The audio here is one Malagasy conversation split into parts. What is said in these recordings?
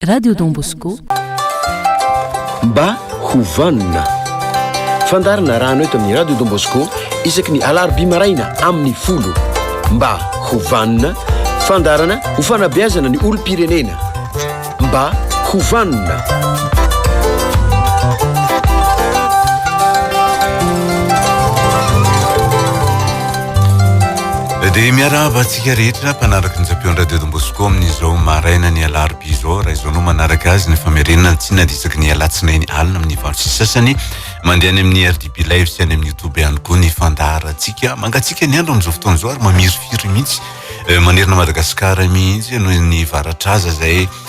Radio Don Bosco. Mba ho vanona. Fandaharana rano eto amin'ny Radio Don Bosco isaky ny alarobia maraina amin'ny folo. Mba ho vanona. Fandaharana ho fanabeazana ny olom-pirenena. Mba ho vanona. de miarahaba Isika rehetra mpanaraka ny Japion Radio Don Bosco amin'izao marainan'ny alarobia izao raha izao no manaraka azy ny famerenana tsy nadisaky ny alatsinainy alina amin'ny valo sy sasany mandeha any amin'ny RDB Live sy any amin'ny YouTube ihany koa ny fandaharantsika mangatsika ny andro amin'izao fotoana izao ary mamirifiry mihitsy eh, manerana Madagasikara mihitsy noho ny varatraza izay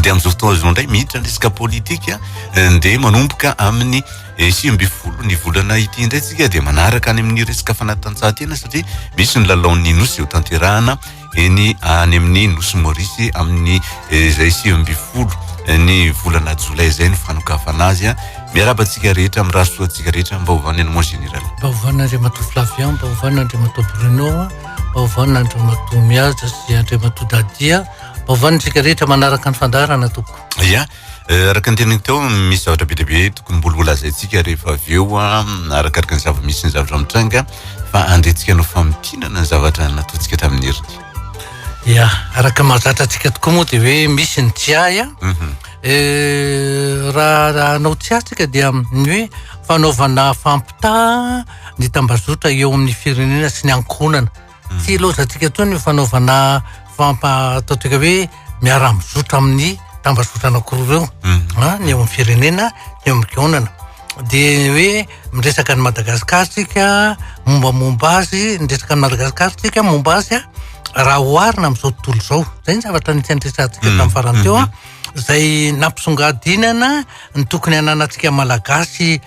dia amin'izao fotoana izao indray miditra ny resaka politika eh, dia manomboka amin'ny eh, sivy ambin'ny folo ny volana ity indray tsika dia manaraka any amin'ny resaka fanatanjahantena satria misy ny lalaon'ny nosy eo tanterahana eny any amin'ny nosy morisy amin'ny eh, izay sivy ambin'ny folo ny volana jolay izay ny fanokafana azy a miaraba antsika rehetra amin'ny rasoa antsika rehetra mba hovana ny moa général mba hovana andriamatoa flavian mba hovana andriamatoa bruno mba hovana andriamatoa miaja sy andriamatoa dadia Vaovao ny tsika rehetra manaraka ny fandaharana tompoko. Ya, eh, araka ny teniny teo misy zavatra be dia be tokony mbola holazaintsika rehefa avy eo ah, arakaraka ny zava-misy ny zavatra mitranga fa andrentsika hanao famintinana ny zavatra nataontsika tamin'ny heriny. Ya, araka ny mahazatra antsika tokoa moa dia hoe misy ny tsiahy ah. Mhm. Eh, raha raha hanao tsiahy tsika dia ny hoe fanaovana fampitaha ny tambazotra eo amin'ny firenena sy ny ankohonana. Tsy ilaozantsika intsony ny fanaovana fampa atao toika hoe miara mizotra amin'ny tambazotra anakiroa ireo mhm. a ah, ny eo amin'ny firenena ny eo amin'ny gaonana de hoe miresaka ny madagasikar tsika momba momba azy niresaka ny madagasikar tsika momba azy a raha hoharina am'izao tontolo izao zay ny zavatra nisy andresatsika mhm. tamin'ny farany teo a mhm. zay nampisongadinana ny tokony ananatsika malagasy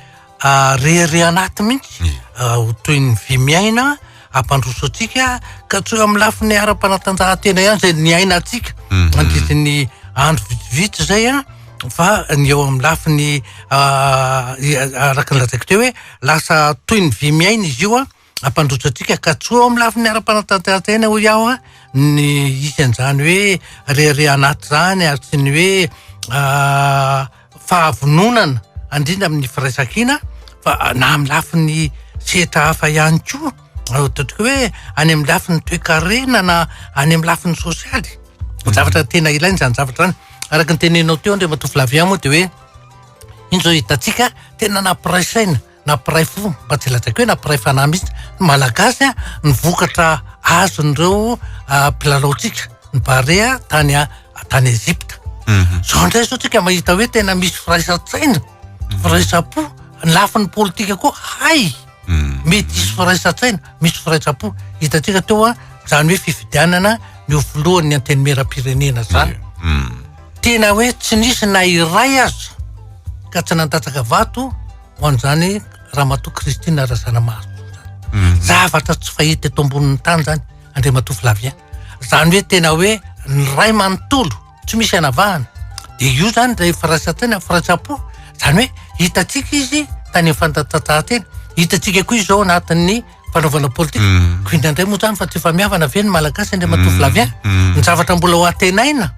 Ah, rehareha anaty mihitsy, Ie. ah, ho toy ny vy miaina, hampandroso antsika, ka tsy eo amin'ny lafiny ara-panatanjahantena ihany izay niainantsika, Mhm. mandritrin'ny andro vitsivitsy izay an, fa ny eo amin'ny lafiny ah, i- araka ny lazaiko teo hoe lasa toy ny vy miaina izy io an, hampandroso antsika ka tsy ho amin'ny lafiny ara-panatanterantena hoy aho a ny isan'izany hoe rehareha anaty izany ary tsy ny hoe fahavononana andrindra amin'ny firaisankina fa na amin'ny lafiny sehatra hafa ihany koa ataontsika hoe any amin'ny lafiny toekarena na any amin'ny lafiny sosialy ny zavatra tena ilaina izany zavatra izany araka ny teneninao teo andriamatoa Flavien moa dia hoe iny izao hitantsika tena nampiray saina na mpiray fo mba tsy lazaiko hoe na mpiray fanahy mihitsy ny malagasy a ny vokatra azon'ireo mpilalaontsika ny barea tany a tany Egypta zao indray zao tsika mahita hoe tena misy firaisan-tsaina firaisan-po ny lafiny politika koa hay mety hisy firaisan-tsaina misy firaisan-po hitantsika teo a zany hoe fifidianana ny ho filohan'ny antenimieram-pirenena zany Tena hoe tsy nisy na iray aza ka tsy nandatsaka vato ho an'izany Ramatoa Christine Razanamahasoa izany. Mhm. Zavatra tsy fahita eto ambonin'ny tany izany Andriamatoa Flavien. Izany hoe tena hoe ny ray manontolo tsy misy anavahana. Dia io izany ilay firaisan-tsaina, firaisampo. Izany hoe hitantsika izy tany amin'ny fandatsatsahan-tena, hitantsika koa izao anatin'ny fanaovana politika. Mm. Ko indraindray moa zany fa tsy efa mihavana ve ny malagasy indray matoa vilavy ahy. Mm. Mm. Ny zavatra mbola ho atenaina,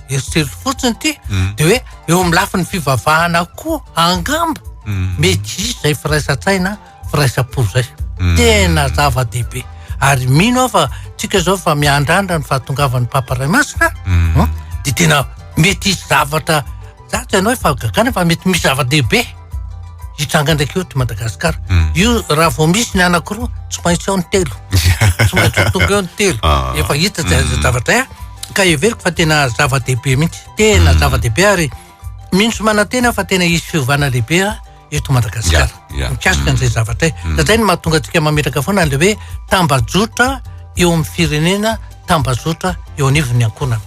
eritrerito fotsiny ity, dia hoe eo amin'ny lafiny fivavahana koa angamba mety hisy izay firaisan-tsaina, firaisam-po izay. Tena zava-dehibe. Ary mino aho fa tsika izao fa miandrandra ny fahatongavan'ny Papa Ray Masina, dia tena mety hisy zavatra Za tsy hanao fa gagana fa mety misy zava-dehibe hitranga ndraiky eto Madagasikara. Hmm. Io raha vao misy ny anankiroa, tsy maintsy ao ny telo. Tsy maintsy ho tonga eo ny telo. Ah. Efa hita zay hmm. zavatra eh. Ka heveriko fa tena zava-dehibe mihitsy. Tena hmm. zava-dehibe ary mino sy manantena fa tena hisy fiovana lehibe. eto Madagasikara mikasika an'izay mm. zavatra e. mm. izay no mahatonga antsika mametraka foana le hoe tambajotra eo amin'ny firenena tambajotra eo anivon'ny ankonana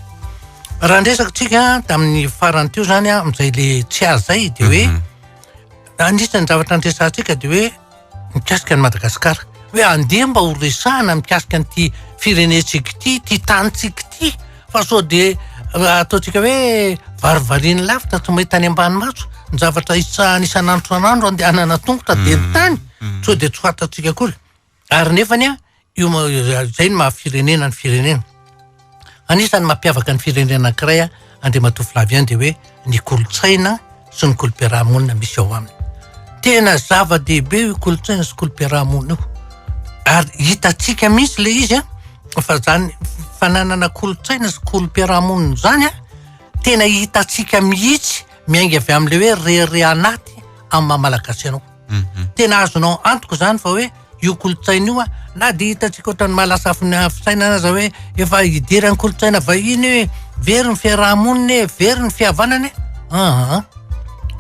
raha ndresaka tsika tamin'ny farany teo zany a amin'izay le tsy azy zay de hoe mhm. anisan'ny zavatra andresantsika de hoe Mikasika an'i Madagasikara. Hoe andeha mba ho resahana mikasika an'ity firenentsika ity, ity tanintsika ity, fa sao dia eh, ataontsika hoe varivarian'ny lavitra tsy mahita any ambany maso, ny zavatra isahana isan'andro isan'andro andehanana tongotra dia ny mm, tany, mm. sao dia tsy fantatsika akory. Ary nefany an, Io moa izay no maha firenena ny firenena. Anisan'ny mampiavaka ny firenena anankiray Andriamatoa Flavien dia hoe ny kolontsaina sy ny kolom-piarahamonina misy ao aminy. Tena zava-dehibe io kolontsaina sy kolom-piarahamonina io. Ary hitantsika mihitsy ilay izy fa izany fananana kolontsaina sy kolom-piarahamonina izany tena hitantsika mihitsy miainga avy amin'ilay hoe rehareha anaty amin'ny maha malagasy anao. Mhm. Tena azonao antoka izany fa hoe io kolontsaina io na dia hitantsika ohatran'ny mahalasa fina- fisainana aza hoe efa idiran'ny kolontsaina vahiny io e. Very ny fiaraha-monina e, very ny fihavanana e. Aa,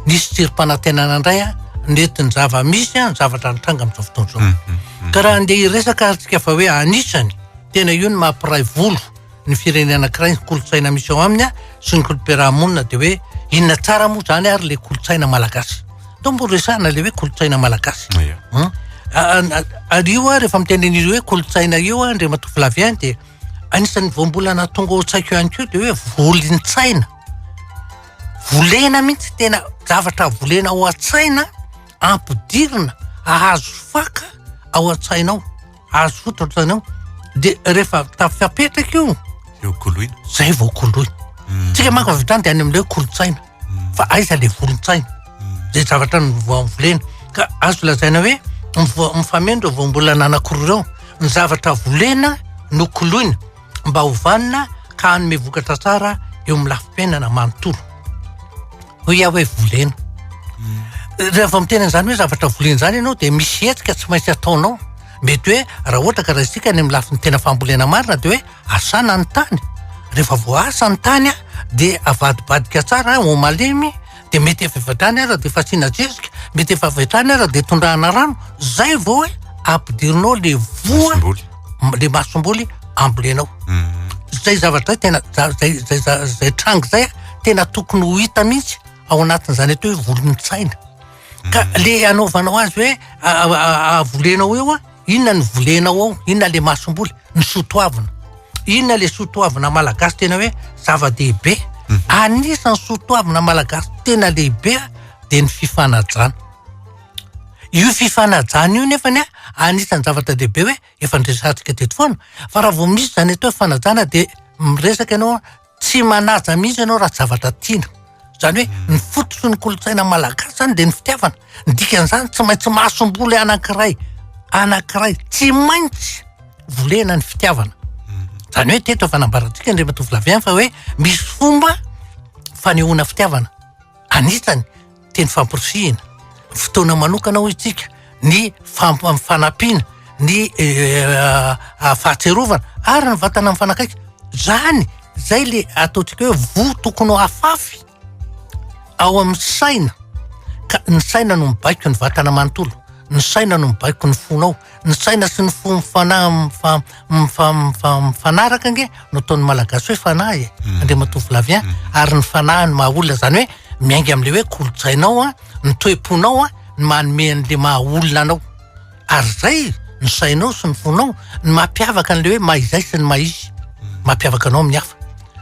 nisy tsirim-panantenana indray a, nety ny zava-misy a, ny zavatra nitranga amin'izao fotoana izao. Ka raha andeha hiresaka ary tsika fa hoe anisany, tena io no mampiray volo. ny firenena anankiray ny kolontsaina misy ao aminy sy ny kolom-piarahamonina dia hoe inona tsara moa zany ary le kolontsaina malagasy to mbo resahana le hoe kolontsaina malagasy hmm? ary io a rehefa mitenen'izy hoe kolontsaina io a ndre matoa filavy any dia anisan'ny voambolana tonga ao tsaiko ihany koa dia hoe volintsaina volena mihitsy tena zavatra volena ao an-tsaina ampidirina ahazo faka ao an-tsainao Azo fototra ohatr'izany ao. Dia rehefa tafapetraka io. Dia ho koloina. Izay vao koloina. Hmm. Tsika manko avy hatrany dia any amin'ilay kolontsaina. Hmm. Fa aiza ilay volon-tsaina? Izay zavatra ny volena. Ka azo lazaina hoe mifameno ireo voambolana anankiroa ireo. Ny zavatra volena no koloina. mba ho vanona ka hanome vokatra tsara eo amin'ny lafim-piainana manontolo. Hoy aho hoe volena. Mm. Raha vao miteny an'izany hoe zavatra volena izany ianao dia misy hetsika tsy maintsy ataonao. Mety hoe raha ohatra ka raisika any amin'ny lafiny tena fambolena marina dia hoe asana ny tany. Rehefa voasa ny tany dia avadibadika tsara ho malemy dia mety avy hatrany aza dia fasiana zezika, mety efa avy hatrany aza dia tondrahana rano, zay vao hoe ampidirinao le voa, le masomboly ambolenao. Hmm. Zay zavatra zay tena, zay, zay, zay, zay tranga zay tena tokony ho hita mihitsy ao anatin'izany atao hoe volon-tsaina. Ka hmm. le anaovanao azy hoe avolenao eo a, Inona no volenao ao? Inona le masomboly? Ny soa toavina. Inona le soa toavina malagasy tena hoe zava-dehibe? Mhm. Anisan'ny soa toavina malagasy tena lehibe dia ny fifanajana. Io fifanajana io nefa ny anisan'ny zavatra lehibe hoe efa niresahantsika teto foana fa raha vao misy izany atao hoe fanajana dia miresaka ianao Tsy manaja mihitsy ianao raha tsy zavatra tiana. Izany hoe ny fototry ny kolontsaina malagasy izany dia ny fitiavana. Ny dikan'izany tsy maintsy masomboly anankiray anankiray tsy maintsy volena ny fitiavana. Izany hoe teto efa nambarantsika indray matoa volaviany fa hoe misy fomba fanehoana fitiavana. Anisany. teny famporisihina, fotoana manokana hoy isika ny fanampina ny fahatsiarovana ary ny vatana mifanakaiky. Izany izay ilay ataontsika hoe voa tokony ho afafy ao amin'ny saina ka ny saina no mibaiko ny vatana manontolo, ny saina no mibaiko ny fonao. ny saina sy ny fo mifana- mifa- mifa- mifa- mifanaraka ange no ataon'ny malagasy hoe fanahy e andriamatoa flavien ary ny fanahy no maha olona zany hoe miainga am'le hoe kolotsainao a ny toe-ponao a ny manome an'le maha olona anao ary zay ny sainao sy ny fonao ny mampiavaka an'le hoe maha izay sy ny maha izy mampiavaka anao amin'ny hafa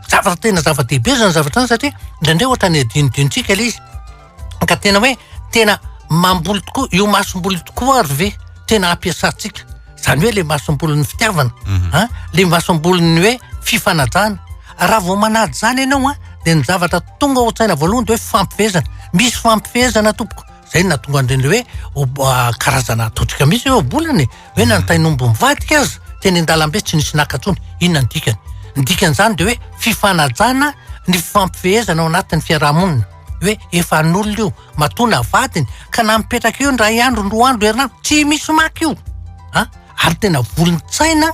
zavatra tena zava-dehibe zany zavatra zany satria indraindray ohatra ny adinodinontsika le izy ka tena hoe tena mamboly tokoa io masomboly tokoa ary ve tena hampiasantsika zany hoe le masombolin'ny fitiavana mhm. a le masombolin'ny hoe fifanajana raha vao manady zany ianao a de ny zavatra tonga ho tsaina voalohany de hoe fampifehezana misy fampifehezana tompoko zay na tonga andreny hoe ah, karazana atotrika misy eo bolany hoe mhm. nantainombo mivadika azy teny an-dalambe tsy nisy nakatsony inona ny dikany ny dikan'izany de hoe fifanajana ny fampifehezana ao anatin'ny fiarahamonina hoe efa an'olona io, matoa navadiny ka na mipetraka eo indray andro ny roa andro herinandro tsy misy maka io a, ary tena volon-tsaina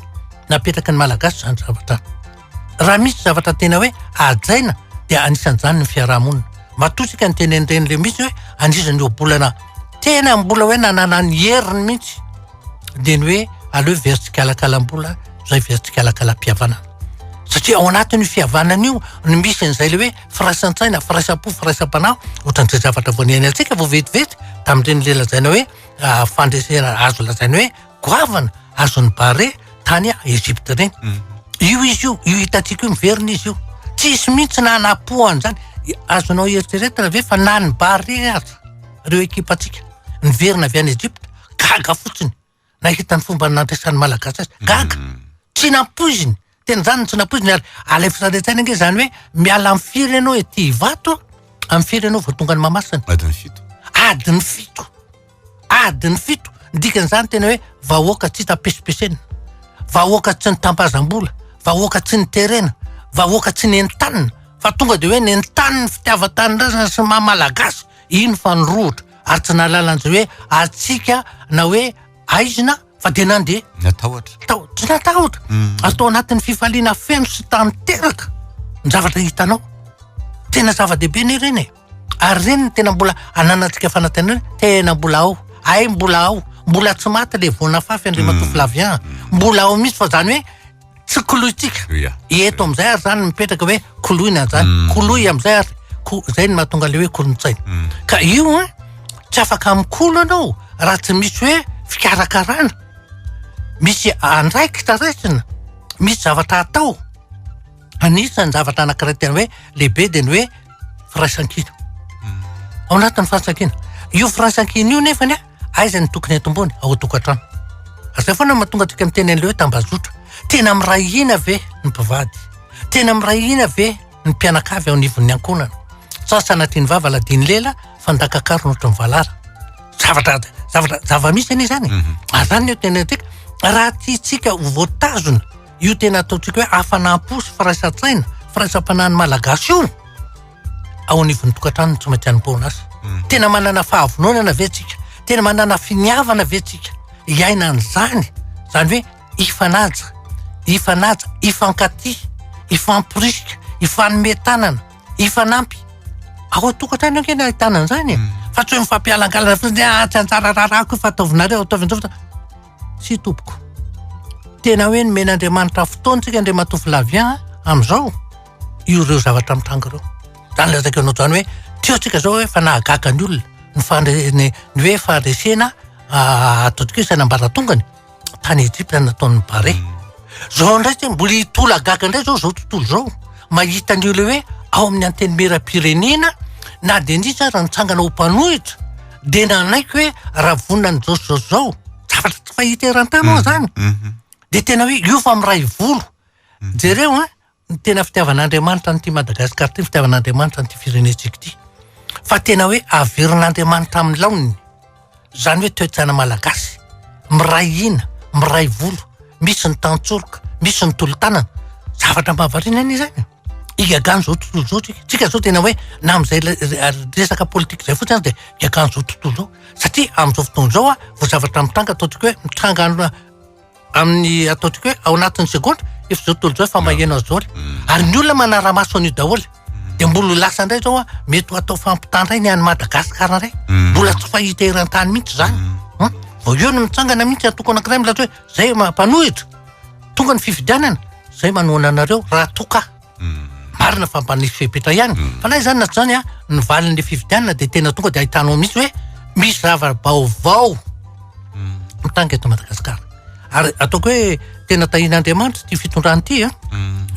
napetraky ny Malagasy izany zavatra izany. Raha misy zavatra tena hoe hajaina dia anisan'izany ny fiarahamonina. Matoa isika ny teny an'ireny le misy hoe an'izany ohabolana tena mbola hoe nanana ny heriny mihitsy dia ny hoe aleo very tsikalakalam-bola izay very tsikalakalam-pihavanana satria ao anatin'io fihavanana io no misy an'izay le hoe firaisan-tsaina, firaisam-po, firaisam-panahy, ohatran'ny izay zavatra vao niainantsika vao vetivety tamin'ireny le lazaina hoe ah, fandresena azo lazaina hoe goavana azon'ny bare tany Egypte ireny. Mm. Io izy io, io hitantsika io miverina izy io. Tsisy mihitsy na anapo an'izany. I- Azonao eritreretina ve fa na ny bare aza, ireo ekipantsika, niverina avy any Egypte, gaga fotsiny. nahita ny fomba nampiasan'ny Malagasy azy. Gaga. Mm. Tsy nampoiziny. Tena izany no tsy nampoiziny ary alefa sady an-tsaina ange izany hoe miala amin'ny firy ianao ety Ivato amin'ny firy ianao vao tonga any Mahamasina. Adiny fito. Adiny fito. Adiny fito. Ny dikan'izany tena hoe vahoaka tsy hita pesipesena. Vahoaka tsy nitampazam-bola. Vahoaka tsy niterena. Vahoaka tsy nentanina. Fa tonga dia hoe nentaniny fitiavan-tanindrazana sy maha Malagasy. Iny fa nirohotra. ary tsy nahalala an'izay hoe hatsiaka na hoe aizina fa dia nandeha. Natahotra. Tao- Tsy natahotra. Ary tao anatin'ny fifaliana feno sy tanteraka ny zavatra hitanao. Tena zava-dehibe anie ireny e. Ary ireny no tena mbola ananantsika fanantenana hoe tena mbola ao. Hay mbola ao. Mbola tsy maty ilay voan'afafy Andriamatoa Flavien. Mbola ao mihitsy fa izany hoe Tsy kolointsika. Ia. Eto amin'izay ary izany mipetraka hoe koloina izany. Mm. Koloy amin'izay ary ko- izay no mahatonga ilay hoe kolontsaina. Mm. Ka io a, tsy afaka mikolo ianao raha tsy misy hoe fikarakarana. Misy andraikitra raisina, misy zavatra atao. Anisan'ny zavatra anankiray tena hoe lehibe dia ny hoe firaisankina. Ao anatin'ny firaisankina. Io firaisankina io nefany a, Aiza ny tokony atomboana? Ao an-tokantrano. Ary izay foana no mahatonga antsika miteny an'ilay hoe tambazotra. Tena miray hina ve ny mpivady? Tena miray hina ve ny mpianakavy ao anivon'ny ankohonana? Sa sanatria ny vava ladian'ny lela fa ndakakaro no ohatran'ny valara? Zavatra, zavatra, zava-misy anie izany. Mhm. Ary izany no tena antsika. Raha tiantsika ho voatazona io tena ataontsika hoe hafanam-po sy firaisan-tsaina, firaisam-panahin'ny Malagasy io, ao anivon'ny tokantrano no tsy maintsy anompoana azy. Hmm. Tena manana fahavononana ve tsika? Tena manana finiavana ve tsika? Iaina an'izany, izany hoe ifanaja, ifanaja, ifankaty, ifamporisika, ifanome tanana, ifanampy. Ao an-tokantrano ankeny ahitana an'izany e. Hmm. Fa tsy hoe mifampialangalana fotsiny hoe ah, tsy anjara raharahako io fa ataovinareo, ataovinareo. Tsy tompoko. Tena hoe nomen'Andriamanitra fotoana tsika Andriamatoa Flavien amin'izao. ireo zavatra mitranga ireo. Izany ilay raha anao izany hoe tsy eo tsika izao hoe fa nahagaga ny olona ny fandre- ny hoe fandresena atodik'isana ambaratongany tany Ejipta nataon'ny Barea. Izao indray tsy mbola hitolagaga indray izao izao tontolo izao mahita an'io ilay hoe ao amin'ny antenimieram-pirenena na dia nisy aza nitsangana ho mpanohitra dia nanaiky hoe raha vonona an'izao sy izao sy izao, zavatra tsy fahita eran-tany moa izany dia tena hoe io fa miray volo. Jereo an! ny tena fitiavan'Andriamanitra an'ity Madagascar ity, ny fitiavan'Andriamanitra an'ity firenentsika ity. Fa tena hoe averin'Andriamanitra amin'ny laoniny. Izany hoe toe-tsaina malagasy. Miray hina, miray volo, misy ny tantsoroka, misy ny tolo-tanana. Zavatra mahavariana anie izany. Higagan'ny izao tontolo izao tsika. Tsika izao tena hoe na amin'izay resaka politika izay fotsiny aza dia hiagan'izao tontolo izao. Satria amin'izao fotoana izao vao zavatra mitranga ataontsika hoe mitranga amin'ny ataontsika hoe ao anatin'ny segondra efa izao tontolo izao efa maheno an'izao ary mm. ary ny olona manara-maso an'io daholo mm. dia mbola lasa indray zao a mety ho atao fampitandray ny any madagasikara indray mm. mbola tsy fahita eran-tany mihitsy izany hmm? vao eo no mitsangana mihitsy atoko anankiray milaza hoe zay mpanohitra tonga ny fifidianana zay manohana anareo raha toka marina fa mba nisy fepetra ihany fa na izany na tsy izany a ny valin'le fifidianana dia tena tonga dia ahitanao mihitsy hoe misy zava-baovao mitanga eto Madagasikara ary ataoko hoe tena tahian'Andriamanitra ity fitondrana ity a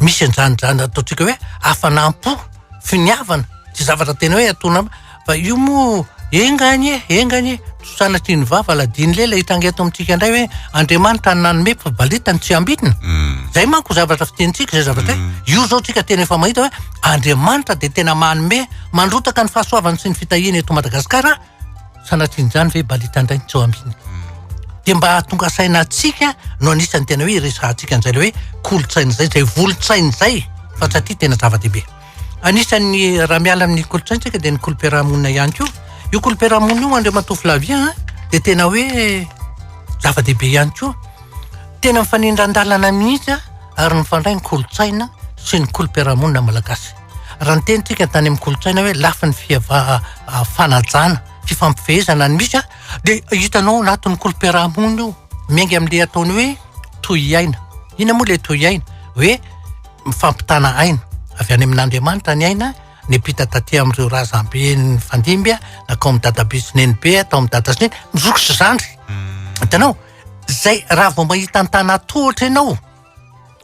misy an'izany izany ataontsika hoe hafanam-po finiavana tsy zavatra tena hoe atona Fa io moa enga anie e, enga anie e, tsy sanatrin'ny vava aladino leila hitranga eto amintsika indray hoe Andriamanitra no nanome fa balita no tsy ambinina. Mm. Zay manko zavatra fitenintsika zay zavatra hoe mm. io zao tsika tena efa mahita hoe Andriamanitra dia tena manome mandrotaka ny fahasoavany sy ny fitahiany eto Madagasikara sanatrin'izany ve balita indray tsy ambinina. Mm. Dia mba hahatonga saina atsika no anisan'ny tena hoe iresahantsika an'izay le hoe kolontsaina izay, izay volotsaina izay fa satria tena zava-dehibe. Anisan'ny raha miala amin'ny kolontsaintsika dia ny kolom-piarahamonina ihany koa. Io kolom-piarahamonina io Andriamatoa Flavien a dia tena hoe zava-dehibe ihany koa. Tena mifanindran-dalana mihitsy ary mifandray ny kolontsaina sy ny kolom-piarahamonina malagasy. Raha ny tenintsika tany amin'ny kolontsaina hoe lafiny fiava- fanajana, fifampifehezana no misy a dia hitanao ao anatin'ny kolom-piarahamonina io. Miainga amin'ilay ataony hoe tohiaina. Inona moa ilay tohiaina? Hoe. mifampitana aina avy any amin'Andriamanitra ny aina nepita taty amin'ireo razambe nifandimby na kao amin'ny dadabe sy nenibe atao amin'ny dada sy neny ny zoky sy zandry mm. hitanao zay raha vao mahita ny tana tohatra ianao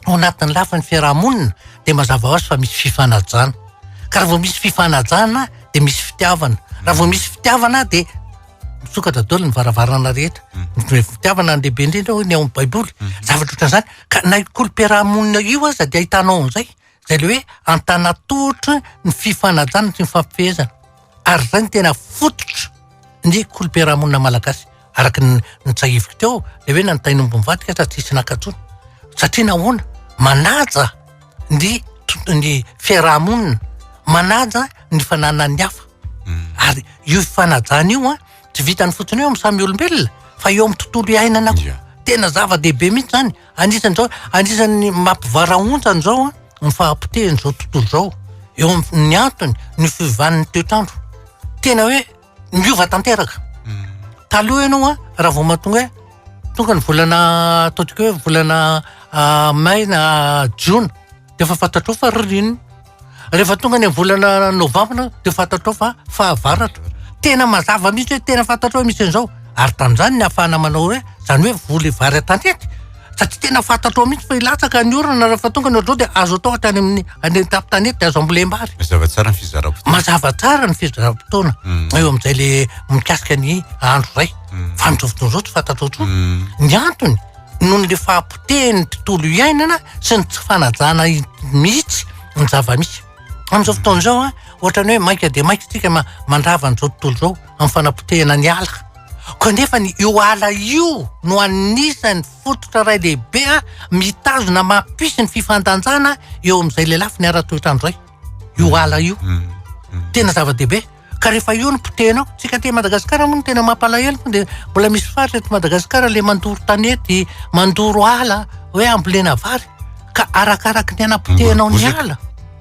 ao anatin'ny lafiny fiarahamonina dia mazava ho azy fa misy fifanajana ka raha vao misy fifanajana dia misy fitiavana raha vao misy fitiavana dia Misokatra daholo ny varavarana rehetra. Ny fitiavana no lehibe indrindra hoy ny ao amin'ny Baiboly. Zavatra ohatran'izany. Ka na io kolomperamonina io aza dia ahitanao an'izay. Izay ilay hoe antanatotry ny fifanajana sy ny fifampifehezana. Ary izay no tena fototry ny kolomperamonina malagasy. Araka ny nitsahiviko teo, ilay hoe nanontanian'omby nivadika sa tsy hisy naka intsony. Satria nahoana? Manaja! ny ny fiaraha-monina, manaja ny fananan'ny hafa. Ary io fanajana io an, tsy vitany fotsiny eo amin'ny samy olombelona fa eo amin'ny tontolo iainana koa. Tena zava-dehibe mihitsy izany. Anisan'ny izao, anisan'ny mampivarahonta an'izao an, ny fahapotehan'izao tontolo izao. Eo amin'ny antony, ny fiovan'ny toetr'andro. Tena hoe Niova tanteraka. Taloha ianao a, raha vao mahatonga hoe tonga ny volana ataontsika hoe volana ah, may na jona, dia efa fantatrao fa ririnina. Rehefa tonga ny volana novambra dia fantatrao fa fahavaratra. Tena mazava mihitsy hoe tena fantatrao hoe misy an'izao. Ary tamin'izany no nahafahana manao hoe, izany hoe voly vary an-tanety. Fa tsy tena fantatrao mihitsy fa hilatsaka ny orana raha fa tonga ny ohatr'izao dia azo atao hatrany amin'ny any an-tampon-tanety dia azo ambolem-bary. Mazava tsara ny fizaram-potoana. Mazava tsara ny fizaram-potoana mm. eo amin'izay le mikasika ny andro iray. Mm. Fa amin'izao fotoana izao tsy fantatrao intsony. Mm. Ny antony noho le fahapotehin'ny tontolo iainana sy ny tsy fanajana mihitsy ny zava-misy. Amin'izao fotoana izao, ohatrany hoe maika dia maika tsika mandrava an'izao tontolo izao amin'ny fanapotehana ny ala. Kanefa ny io ala io no anisan'ny fototra iray lehibe mitazona mampisy ny fifandanjana eo amin'izay lelafiny ara-toetrandro izay. Io ala io. Mm, mm. Tena zava-dehibe. Ka rehefa io no potehinao, tsika aty Madagasikara moa no tena mampalahelo fa dia mbola misy faritra eto Madagasikara le mandoro tanety, mandoro ala, hoe ambolena vary. Ka arakaraky ny anam-potehinao ny ala.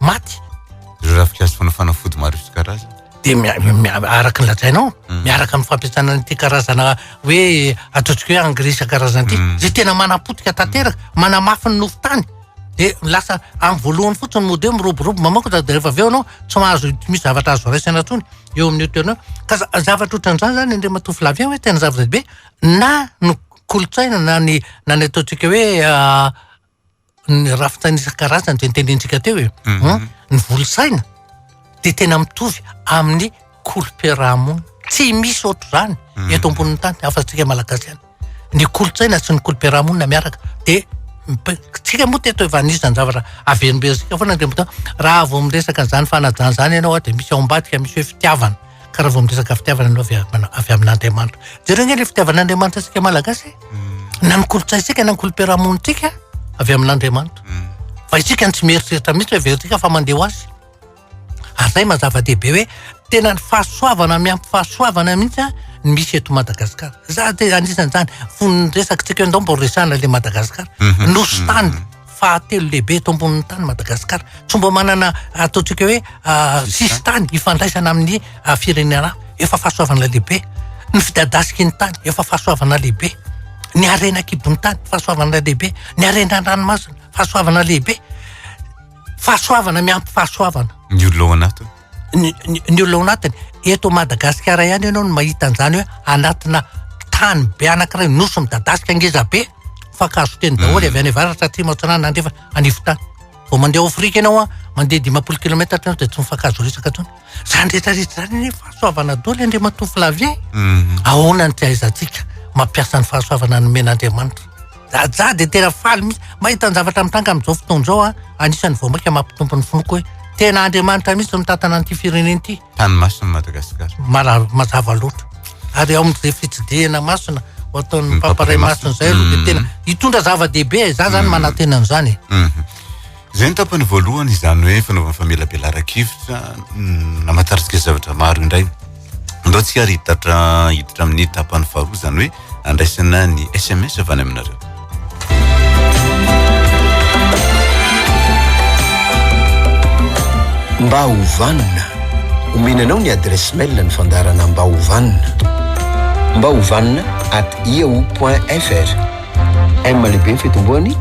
maty ireo rafi-kaazo fanafana fody maro isan-karazany. Dia mia- mia- araka ny lazainao, Mm. miaraka amin'ny fampiasana an'ity karazana hoe ataontsika hoe engrais isan-karazany ity, Mm. izay tena manapotika tanteraka, manamafy ny nofo tany. Dia lasa amin'ny voalohany fotsiny mody hoe miroborobo mamaoko dia rehefa avy eo ianao tsy mahazo tsy misy zavatra azo raisina intsony eo amin'io toerana io. Ka za- zavatra ohatran'izany izany indray matoa Flavien hoe tena zava-dehibe na ny kolontsaina na ny na ny ataontsika hoe ah, ny rafin-tsaina isan-karazany izay notenentsika teo e. Mhm. Ny volon-tsaina dia tena mitovy amin'ny kolom-piarahamonina. Tsy misy ohatr'izany mhm. eto ambonin'ny tany afa-tsika malagasy ihany. Ny kolon-tsaina sy ny kolom-piarahamonina miaraka dia tsika moa teto efa anisany zavatra averimberitsika foana ny raha vao miresaka an'izany fanajana izany ianao dia misy ao ambadika misy hoe fitiavana. Ka raha vao miresaka fitiavana ianao avy am- avy amin'Andriamanitra. Jereo ange ilay fitiavan'Andriamanitra antsika Malagasy. eh. Na ny kolontsaintsika na ny kolom-piarahamonintsika avy amin'Andriamanitra. Fa isika no tsy mieritreritra mihitsy hoe verintsika fa mandeha ho azy. Ary izay maha zava-dehibe hoe tena ny fahasoavana miampy fahasoavana mihitsy an, ny misy eto Madagasikara. Za dia anisan'izany, fony resakitsika eo ndao mbola resahana ilay Madagasikara. Nosy tany. fahatelo lehibe eto ambonin'ny tany Madagasikara. Tsy mba manana ataontsika hoe sisintany ifandraisana amin'ny firenena hafa. Efa fahasoavana lehibe. Ny fidadasiky ny tany efa fahasoavana lehibe. Ny harena an-kibon'ny tany fahasoavana lehibe. Ny harena an-dranomasina fahasoavana lehibe. Fahasoavana miampy fahasoavana. Ny olo ao anaty. ny olona ao anatiny. Eto Madagasikara ihany ianao no mahita an'izany hoe anatina tany be anankiray nosy midadasika ngeza be, fankahazo teny daholo avy any avaratra, atsimo, atsinanana, andrefana, anivon-tany. Vao mandeha ao Afrika ianao an, mandeha dimampolo kilaometatra ianao dia tsy mifankahazo resaka intsony. Izany rehetra rehetra izany anie fahasoavana daholo i Andriamatoa Flavien. Ahoana ny tsy ahaizantsika mampiasa ny fahasoavana nomen'Andriamanitra. Jajah dia tena faly mihitsy mahita ny zavatra mitranga amin'izao fotoana izao an! Anisan'ny vao maika mampitombo ny finoako hoe tena Andriamanitra mihitsy no mitantana an'ity firenena ity. Tany masina i Madagasikara. Marary mazava loatra. Ary ao amin'izay fitsidihana masina ho ataon'ny Papa Iray Masina izay aloha dia tena hitondra zava-dehibe e! Izaho izany manantena an'izany e! Izay ny tapany voalohany, izany hoe fanaovana famelabelaran-kevitra namataritsika zavatra maro indray. Andao tsika ary hiditra hiditra amin'ny tapany faharoa, izany hoe andraisana ny SMS avy any aminareo. Mba ho vanona, omena anao ny adresse mail ny fandaharana mba ho vanona. Mba ho vanona at yahoo.fr. M lehibe ny fitomboany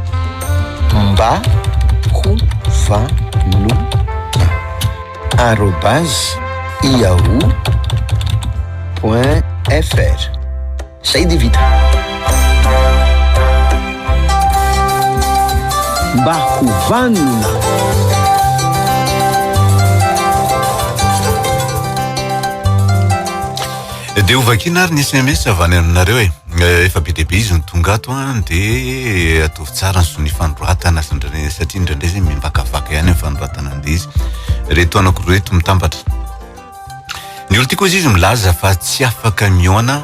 mba ho vanona arobase yahoo point fr zay dia vita mba ho vanona dia ho vakina ary ny sms avy any aminareo e Eh, efa be dia be izy no tonga ato an, ah, dia ataovy tsara ny zon'ny fanoratana satria indraindray izay mimbakavaka ihany ny fanoratana an'ilay izy reto anako reto mitambatra ny olo tiako izy izy milaza fa tsy afaka miona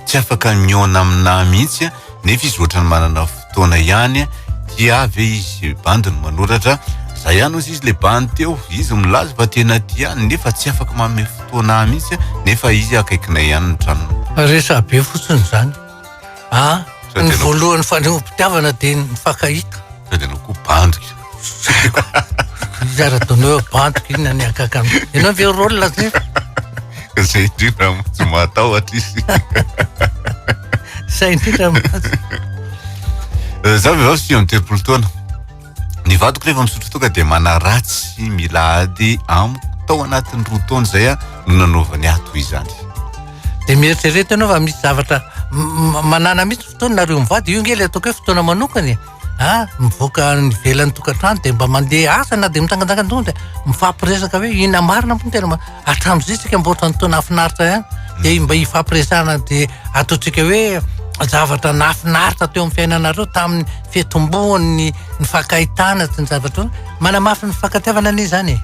tsy afaka miona aminà mihitsy nefa izy ohatrany manana taona ihany tia ve izy bandy no manoratra za ihany ozy izy le bandy teo izy milaza fa tena tia nefa tsy afaka manome fotoana ahy mihitsy nefa izy akaikinay ihany ny tranony resa be fotsiny izany a ah, ny voalohany fanehoam-pitiavana dia ny fakahita sady ianao koa bandy Zara doneo bantok inona ny akaka. Ianao ve rôle la zay? Zay indrindra tsy mahatahotra izy. Zay indrindra mahazo. Eh, za vehivavy sivy amby telopolo taona. Ny vadiko rehefa misotro toaka dia manaratsy mila ady amiko. Tao anatin'ny roa taona izay ah, no nanaovany ahy toy izany. Dia mieritrereta ianao fa misy zavatra m- m- manana mihitsy fotoana nareo mivady. Io nge ilay ataoko hoe fotoana manokana e. an, mivoaka any ivelan'ny tokantrano dia mba mandeha asa na dia mitsangantsangana dia mifampiresaka hoe inona marina moa no tena hatramin'izay isika mba ohatran'ny toa nahafinaritra ihany dia mba hifampiresahana dia ataontsika hoe zavatra nahafinaritra teo amin'ny fiainanareo tamin'ny fitomboan'ny nifankahitana sy ny zavatra hoe manamafy ny fifankatiavana anie izany e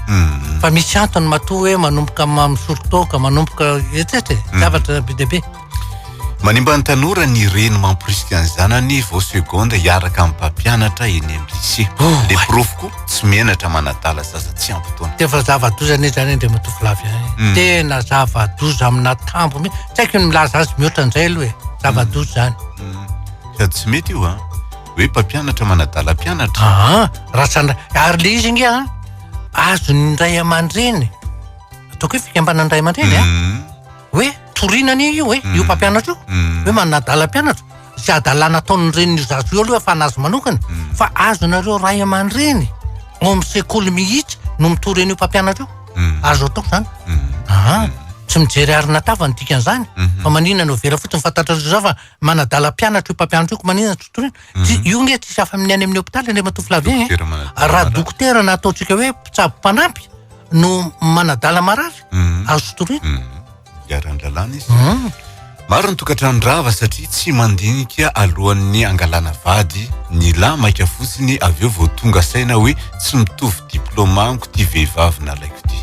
hmm. fa misy antony matoa hoe manomboka misorotoka manomboka etsetra e hmm. zavatra be dia be Manimba ny tanora ny reny mamporisika ny zanany vao seconde hiaraka amin'ny mpampianatra eny amin'ny lycée. Oh, Dia my- porofo koa tsy menatra manadala zaza tsy ampy taona. Dia efa zava-doza anie izany Andriamatoa Flavien eh. Mm. Tena zava-doza amina tambo mi- Tsy haiko ny milaza azy mihoatra an'izay aloha e. Zava-doza izany. Mm. Sady tsy mety io a. Hoe mpampianatra manadala mpianatra. Aa, raha sana ary le izy nge an azon'ny ray aman-dreny ataoko hoe fikambanan'ny ray aman-dreny an Mm. hoe toriana anie io e, io mm. mpampianatra io mm. hoe manana adala mpianatra sy adalana ataon'ny renin'io zaza io aloha fa anazy manokana mm. fa azonareo ray aman-dreny ao amin'ny sekoly mihitsy no mitory an'io mpampianatra io azo atao zany aha tsy mijery arina tava ny dikan'izany mhm. fa maninona no vera fotsiny fantatrareo za fa manadala mpianatra io mpampianatra io ko maninona tsy toriana tsy mhm. io nge tsisy afa amin'ny any amin'ny hôpitaly any matoa filavia e raha dokotera na ataontsika hoe mpitsabo mpanampy no manadala marary mhm. azo toriana mhm. iharan-dalàna izy maro ny tokantrandrava satria tsy mandinika alohan'ny angalana vady ny lahy maika fotsiny avy eo vao tonga saina hoe tsy mitovy diplôma amiko ty vehivavy nalaiko ty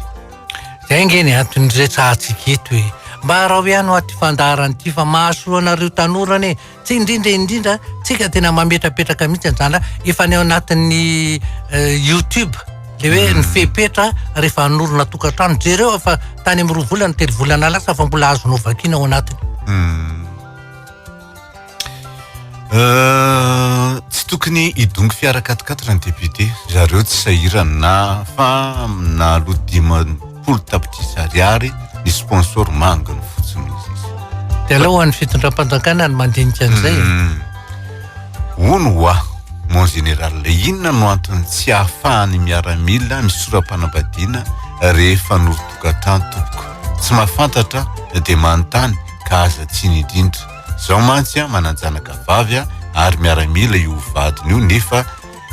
Zay nge ny antony niretsahantsika eto e. Mba araho ihany hoa ty fandaharana ty fa mahasoa anareo tanora anie. Tsy indrindra indrindra tsika tena mametrapetraka mihitsy anzany ra efa any anatin'ny eh, youtube le hoe ny hmm. fepetra rehefa hanorina tokantrano jereo fa tany amin'ny roa volana telo volana lasa fa mbola azo novakiana ao anatiny. Hmm. Euh, tsy tokony hidongy fiara katikatitra ny député zareo tsy sahirana na fa nalo dimampolo tapitrisa ariary ny sponsor manga no fotsiny de aleo ho an'ny fitondram-panjakana ny mandinika an'izay hmm. hono wa mon général inona no antony tsy ahafahan'ny miaramila misora-panambadiana rehefa norotokantrano tompoko tsy mahafantatra dia manontany ka aza tsiny indrindra. Zaho mantsy an manan-janaka vavy an ary miaramila io vadiny io nefa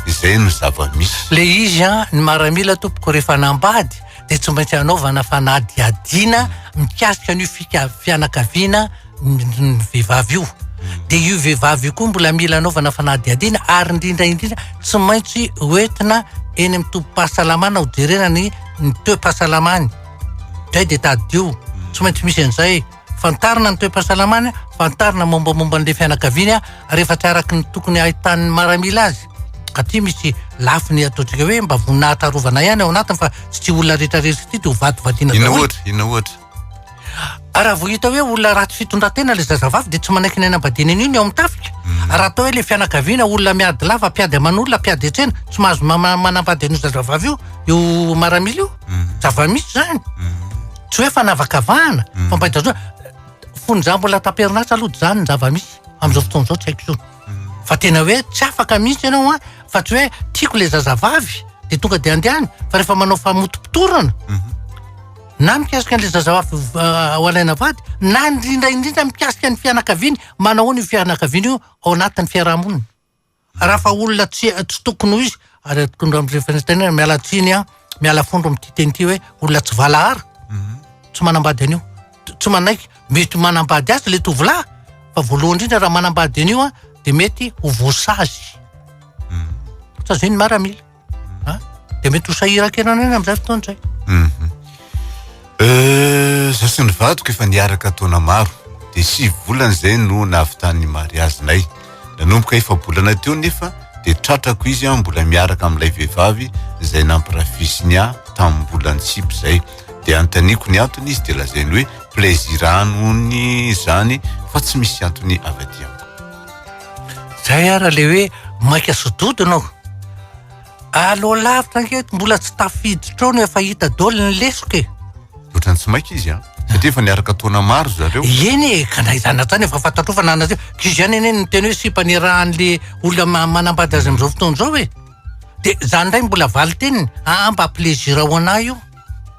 izay no zava-misy. Le izy an ny maramila tompoko rehefa nambady dia tsy maintsy anaovana fanadihadiana mikasika an'io fika- fianakaviana ny vehivavy io. Dia io vehivavy io koa mbola mila anaovana fanadihadiana ary indrindra indrindra tsy maintsy hoentina eny amin'ny tobim-pahasalamana hojerena ny ny toe-pahasalamany. Zay dia tadidio. Tsy maintsy misy an'izay. Fantarina ny toe-pahasalamany, fantarina mombamomba an'ilay fianakaviany rehefa tsy araka ny tokony hahitan'ny maramila azy. Aty misy lafiny ataontsika hoe mba voninahitra arovana ihany ao anatiny fa tsy olona rehetra rery sy tia dia ho vatovadiana daholo. Inona ohatra? Inona ohatra? Ary raha vao hita hoe olona ratsy fitondran-tena ilay zazavavy dia tsy manaiky ny any am-badiany anio ny ao amin'ny tafika. Hmm. Ary raha atao hoe ilay fianakaviana olona miady lava, mpiady aman'olona, mpiady an-tsena, tsy mahazo manambady an'io zazavavy io, io maramila io. Hmm. Zava-misy izany. Hmm. Tsy hoe fanavakavahana, fampahitazona. Fonja mbola tamperinasa aloha izany ny zava-misy. Amin'izao fotoana izao tsy haiko intsony. Fa tena hoe tsy afaka mihitsy ianao an, fa tsy hoe tiako ilay zazavavy dia tonga dia andehany, fa rehefa manao famotopotorana, na mikasika an'ilay zazavavy ho alaina vady na indrindra indrindra mikasika ny fianakaviany, manahoana io fianakaviana io ao anatin'ny fiarahamonina. Raha fa olona tsy tsy tokony ho izy, ary tokony amin'izay fanatanterahana, miala tsiny aho, miala fondro amin'ity teny ity hoe olona tsy valahara, mhm. tsy manambady an'io, tsy manaiky, mety manambady azy ilay tovolahy, fa voalohany indrindra raha manambady an'io dia mety ho voasazy. Mhm. Sazian'ny maramila. a dia mety ho sahirankena an'aina amin'izay fotoana izay mhm. eh, za sy ny vadiko efa niaraka taona maro dia sivy volana izay no nahavitan'ny mariazinay nanomboka efa bolana teo nefa dia tratrako izy a mbola miaraka amin'ilay vehivavy izay nampirafisiny ahy tamin'ny bolany sipy izay dia antaniko ny antony izy dia lazainy hoe plaisir anony izany fa tsy misy antony avy aty amiko Zay ara le hoe maika sododina aho. Allo lavitra ange eto mbola tsy tafiditra ao no efa hita dol ny lesoka e. Otrany tsy maika izy an. Satria efa niaraka taona maro zareo. Eny e, ka na izany na izany efa fantatrao fa na anareo. K'izy ihany anie no niteny hoe sipa nirahan'le olona manambady azy amin'izao fotoana izao e. Dia izany indray mbola valinteniny, aa mba plaisir ho anah io.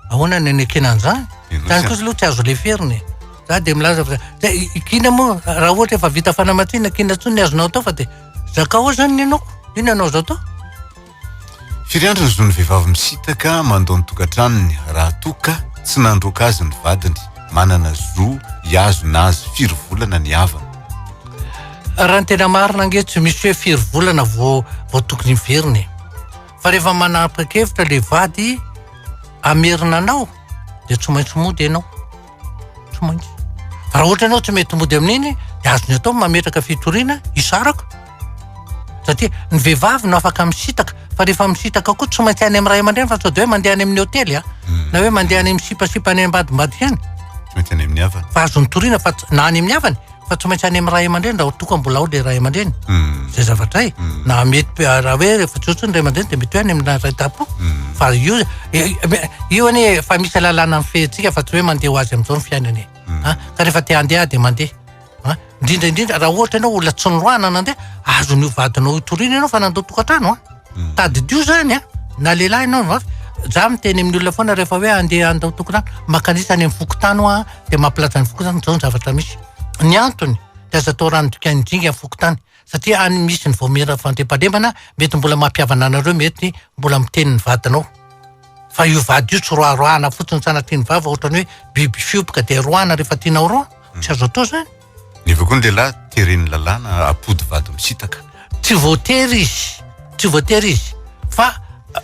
Ahoana ny anekena an'izany? Izany kosa aloha tsy azo leferina e. Za dia milaza fa dia kiana moa raha ohatra efa vita fanamatsiana kiana intsony ny azonao atao fa dia zakao ao izany ny anaoko. Inona no azo atao? Firy andro ny zon'ny vehivavy misitaka mandao ny tokantranony raha toa ka tsy nandroaka azy ny vadiny? Manana zo hihazona azy firy volana ny havany? Raha ny tena marina ange tsy misy hoe firy volana vao vao tokony hiverina e. Fa rehefa manapakevitra le vady hamerina anao de tsy maintsy mody ianao. Tsy maintsy. Raha ohatra ianao tsy mety mody amin'iny de azony atao mametraka fitoriana hisaraka. Satria ny vehivavy no afaka misitaka fa rehefa misitaka koa tsy maintsy any amin'ny ray aman-dreny fa sao de hoe mandeha any amin'ny hotely a. Hmm. Na hoe mandeha any amin'ny sipasipa any ambadimbadika any. Tsy maintsy any amin'ny havany. Fa azony toriana fa na any amin'ny havany fa tsy maintsy any amin'ny ray aman-dreny raha toa ka mbola ao ilay ray aman-dreny hmm. zay zavatra e hmm. na mety ah, raha hoe rehefa tsy ohatrany ray aman-dreny dia mety hoe any amin'ny ray dapo hmm. fa io eh, eh, io anie efa misy alalàna amin'ny fehintsika fa tsy hoe mandeha ho azy amin'izao ny fiainana e ah, ka rehefa te handeha dia mandeha ah, indrindra indrindra raha ohatra ianao olona tsy niroahana nandeha azon'io vadinao itoriana ianao fa nandao tokantrano a tadidio zany a na lehilahy ianao no avy za miteny amin'ny olona foana rehefa hoe andeha andao tokantrano makanisa any amin'ny fokontany hoa dia mampilaza ny fokontany izao ny zavatra misy. Ny antony dia aza atao rano dikain'ny jinga ny fokontany satria any misy ny vaomiera fandriampahalemana mety mbola mampihavana anareo mety mbola miteny ny vadinao. Fa io vady io tsy roaroahana fotsiny sanatria ny vava ohatrany hoe biby fioboka dia roahana rehefa tianao roa. Tsy azo atao izany. Nefa koa ny lehilahy teren'ny lalàna apody vady misitaka. Tsy voatery izy, tsy voatery izy fa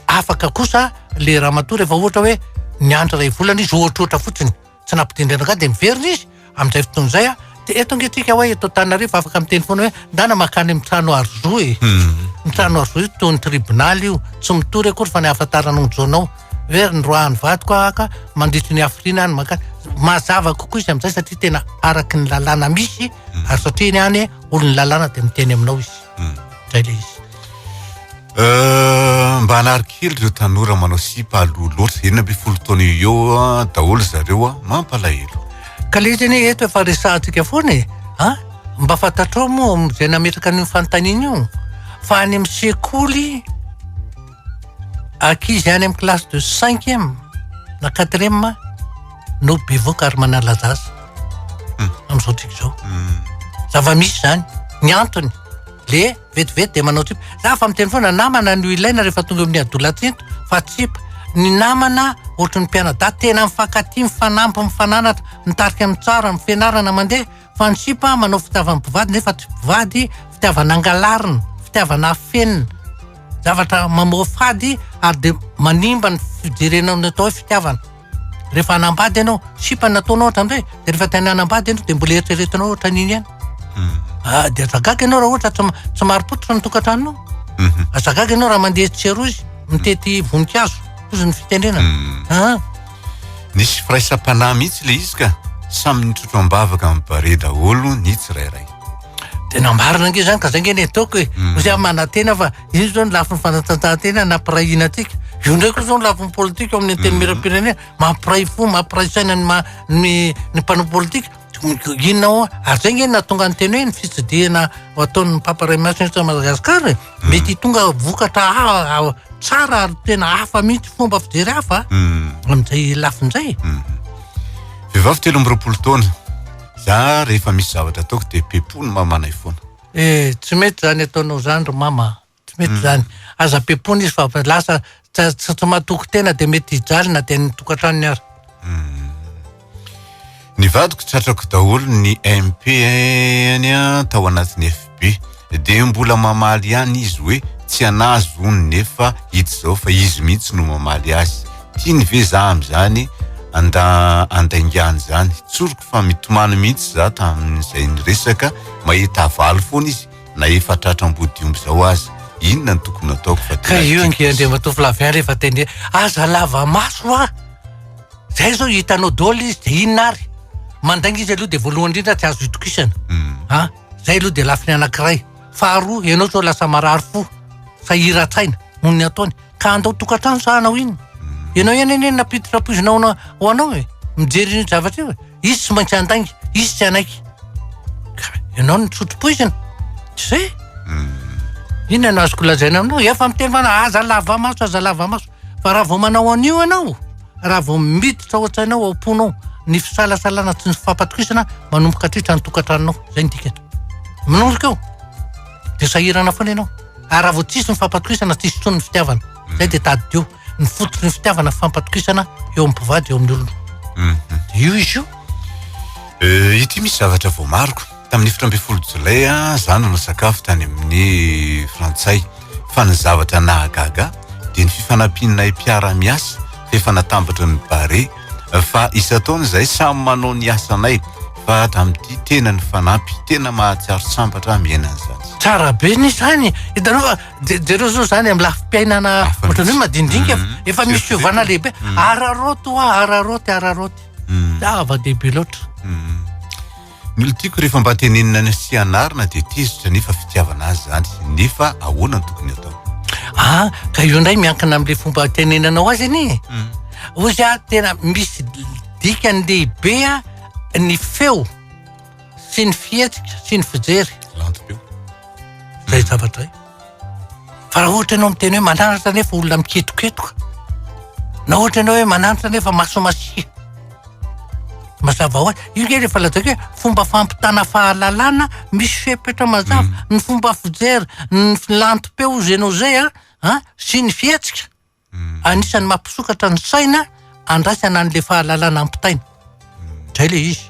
afaka kosa le ramatoa rehefa ohatra hoe niandry iray volana izy ohatrohatra fotsiny, tsy nampidindraina angah dia miverina izy amin'izay fotoana izay an! dia eto ange tsika hoe eto Antananarivo afaka miteny foana hoe ndana mankany amin'ny trano arzoe, ny trano arzoe toy ny tribonaly io, tsy mitory akory fa ny ahafantaranao ny zonao. Very ny roahan'ny vadiko aho ka mandritry ny hafiriana any mankany. Mazava kokoa izy amin'izay satria tena araky ny lalàna misy hmm. ary satria ny any olon'ny lalàna dia miteny aminao izy. Hmm. Zay le izy. Euh, mba hanary kely ireo tanora manao sipa aloha loatra enina amby folo taona eo ah, daholo zareo a ah, mampalahelo ka le izy anie eto efa resahantsika foana e a ah, mba fantatrao moa zay nametraka an'io fanontaniana io fa any amin'ny sekoly Ankizy any amin'ny classe de cinquième na quatrième no bevoka ary manalaza azy hmm. amin'izao tsika izao. Hmm. Zava-misy izany. Ny antony le vetivety dia manao tsipa. Za fa miteny foana namana no ilaina rehefa tonga amin'ny adolatsinto fa tsipa. Ny namana ohatry ny mpianadahy tena mifankatia, mifanampy, mifananatra, mitarika amin'ny tsara, amin'ny fianarana mandeha fa ny sipa manao fitiavan'ny mpivady nefa tsy mpivady, fitiavana angalarina, fitiavana afenina, zavatra mamoafady ary dia manimba ny fijerena ny atao hoe fitiavana. Rehefa hanambady ianao, sipa no ataonao ohatrany hoe, dia rehefa te hanambady ianao dia mbola eritreretinao ohatrany iny ihany. Hmm. Ah, dia aza gaga ianao raha ohatra tsy, tsy marim-pototra ny tokantranonao. Hmm. Aza gaga ianao raha mandeha tsy erozy, mitety voninkazo, toy ny fitenenana. Hmm. Ah. Nisy firaisam-panahy mihitsy ilay izy ka, samy nitrotro am-bavaka amin'ny barea daholo ny tsirairay. Tena marina ange izany ka izay nge ny ataoko e. Mm. Misy aho manantena fa io izao ny lafiny fanatanjahantena nampirahina antsika. Io ndray koa izao ny lafiny politika ao amin'ny mm. antenimieram-pirenena mampiray fo, mampiray saina ny, ma, ny, ny mpanao politika. Inona ho'a? Ary zay nge nahatonga ny teny hoe ny fitsidihana ataon'ny Papa Iray Masina eto Madagasikara e, mety hitonga vokatra tsara ary tena hafa mihitsy fomba fijery hafa amin'izay lafiny izay e. Vehivavy telo amby roapolo taona, za rehefa misy zavatra ataoko dia pepony mamanay foana. Eh, tsy mety zany ataonao zany ry mama. Tsy mety izany. Aza bepona izy fa lasa tsy matoky tena dia mety hijaly na dia ny tokantranony aza. Hmm. Ny vadiko tratrako daholo ny MP any tao anatin'ny FB dia mbola mamaly ihany izy hoe tsy anazy hono nefa hita izao fa izy mihitsy no mamaly azy tiany ve za amin'izany anda andaingany izany tsoriko fa mitomany mihitsy za tamin'izay ny resaka mahita avaly foana izy na efa tratra ambodiomby izao aza inona no tokony ataoko fa ka io ange andriamatoa Flavien rehefa teny aza lava maso a zay zao hitanao dôly izy de inona ary mandainga izy aloha de voalohany indrindra tsy azo itokisana hmm. a zay aloha de lafiny anankiray faharoa ianao zao lasa marary fo sahiran-tsaina noho ny ataony ka andao tokantrano sa hanao inona? Ianao ihany anie nampiditra poizina ho anao e! Mijery io zavatra io e! Izy tsy maintsy handainga, izy tsy hanaiky. Ka ianao no nisotro poizina? Tsy izay e! Hmm. Inona no azoko lazaina aminao? Efa miteny fana, aza lava maso, aza lava maso. Fa raha vao manao an'io ianao, raha vao miditra ao an-tsainao, ao am-ponao, ny fisalasalana sy ny fampatokisana manomboka hatritra ny tokantranonao. Izay ny dikany. Minorika eo. dia sahirana foana ianao ary raha vao tsisy ny fampatokisana tsisy intsony ny fitiavana mm. zay dia tadidio ny fototry ny fitiavana fampatokisana eo amin'ny mpivady eo amin'ny olona mm. io izy io eh, ity misy zavatra vao mariko tamin'ny efatra ambin'ny folo jolay za nanao sakafo tany amin'ny frantsay fa ny zavatra nahagaga dia ny fifanampianay mpiara-miasa efa natambatra ny bare fa isan-taona izahay samy manao ny asanay fa hatramin'ity tena ny fanampy tena mahatsiaro sambatra miaina an'izany tsara be ny izany hitanao fa je- jereo zao zany amin'ny lafim-piainana Hafa ohatrany hoe mihitsy. madindinika Mhm. efa misy Surtout fiovana zao. lehibe Mhm. araroty hoa araroty araroty Mm, zava-dehibe loatra mm. Ny olona tiako rehefa mba tenenina sy anarina dia tezitra nefa fitiavana azy zany nefa ahoana no tokony atao? Ah, ka io ndray miankina amin'ilay fomba tenenanao azy anie. Hmm. Ozy ah tena misy dikany lehibe ah ny feo sy ny fihetsika sy ny fijery. Lantom-peo. Zay zavatra zay. Fa raha ohatra ianao miteny hoe mananatra nefa olona miketoketoka, na ohatra ianao hoe mananatra nefa maso masia, mazava ho azy. Io nge rehefa lazaiko hoe fomba fampitana fahalalana misy fepetra mazava. Mm. Ny fomba fijery, ny filantom-peo izay anao izay an, sy ny fihetsika. Anisan'ny mampisokatra ny saina andraisana an'ilay fahalalana ampitaina. Izay ilay izy.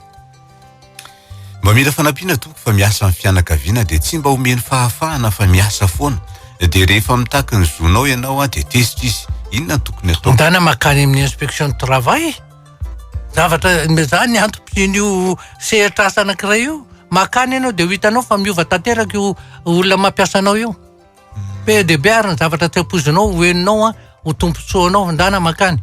Mba mila fanampiana tompoko fa miasa amin'ny fianakaviana dia tsy mba omeny fahafahana fa miasa foana. Dia rehefa mitaky ny zonao ianao dia tezitra izy. Inona no tokony atao? Ndana makany amin'ny inspection du travail. Zavatra za ny antom-pisian'io sehatr'asa anankiray io. Makany ianao dia ho hitanao fa miova tanteraka io olona mampiasa anao io. Be dia be ary ny zavatra tsy ampoizinao ho henonao an, ho tombontsoanao handana mankany.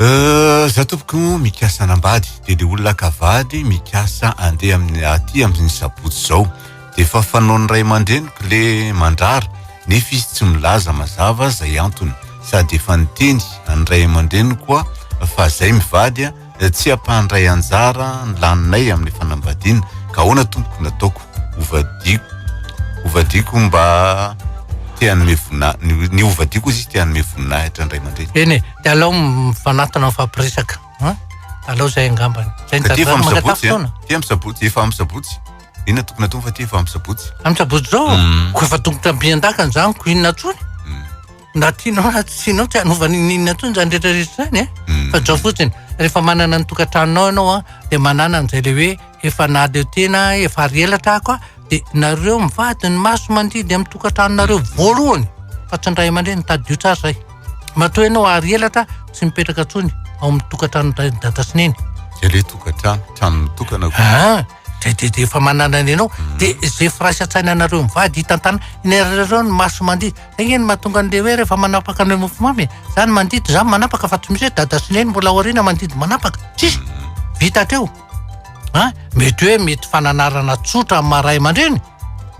Euh, za tompoko mikasa anambady dia le olona akavady mikasa andeha amin'ny aty amin'ny sabotsy izao dia efa fanaon'ny ray aman-dreniko le mandrara nefa izy tsy milaza mazava izay antony sady efa niteny an'ny ray aman-dreniko koa fa zay mivady a tsy ampahandray anjara ny laninay amin'ny fanambadiana ka ahoana tompoko nataoko hovadiako hovadiako mba te hanome vonina ny hovadiako izy te hanome voninahitra ny ray aman-dreny eny e de alao mifanatona mifampiresaka a alao izay angambany zay ny tantara mangatafo taona ty amin'ny sabotsy efa amin'ny sabotsy inona tokony atao fa ty efa amin'ny sabotsy amin'ny sabotsy zao ko efa tongotra ampian-dakana zany ko inona tsony Na tianao na tsy tianao tsy hanova n'inon'inona intsony izany rehetrarehetra izany eh. Hmm. Fa zao fotsiny, rehefa manana ny tokantranonao ianao a, dia manana an'izay le hoe efa naleo tena, efa ary ela trako a, dia nareo mivady ny maso mandidy amin'ny tokantranonareo voalohany fa tsy ny ray aman-dreny, tadidio tsara izay. Matoa ianao ary elatra tsy mipetraka intsony ao amin'ny tokantranon-dray dada sy neny. Dia le tokantrano, trano mitokana koa. Ah, de de de efa manana ny anao de ze firaisa tsaina anareo mivady hitantana inareo ny maso mandidy engeny mahatonga an'le hoe rehefa manapaka an'le mofomamy e za ny mandidy za manapaka fa tsy misy hoe dada sy neny mbola aoriana mandidy manapaka tsisy vita hatreo a mety hoe mety fananarana tsotra amin'ny maha ray aman-dreny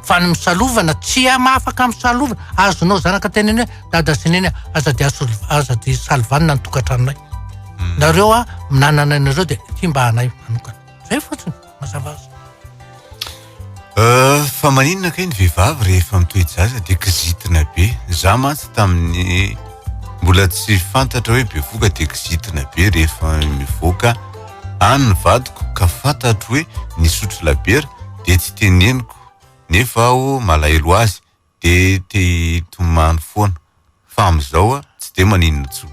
fa ny misalovana tsy ama afaka misalovana azonao zanaka teneny hoe dada sy neny aza de asolo aza de salovanina ny tokantranonay nareo a minanana anareo de ty mba anay manokana Zay fotsiny, mazava azy. Euh, fa maninona kay ny vehivavy rehefa mitoe-jaza dia kizitina be. Za mantsy tamin'ny mbola tsy fantatra hoe bevoka dia kizitina be rehefa mivoaka any ny vadiko ka fantatro hoe nisotro labiera dia tsy teneniko nefa aho malahelo azy de te hitomany foana fa amizao a tsy de maninona intsony.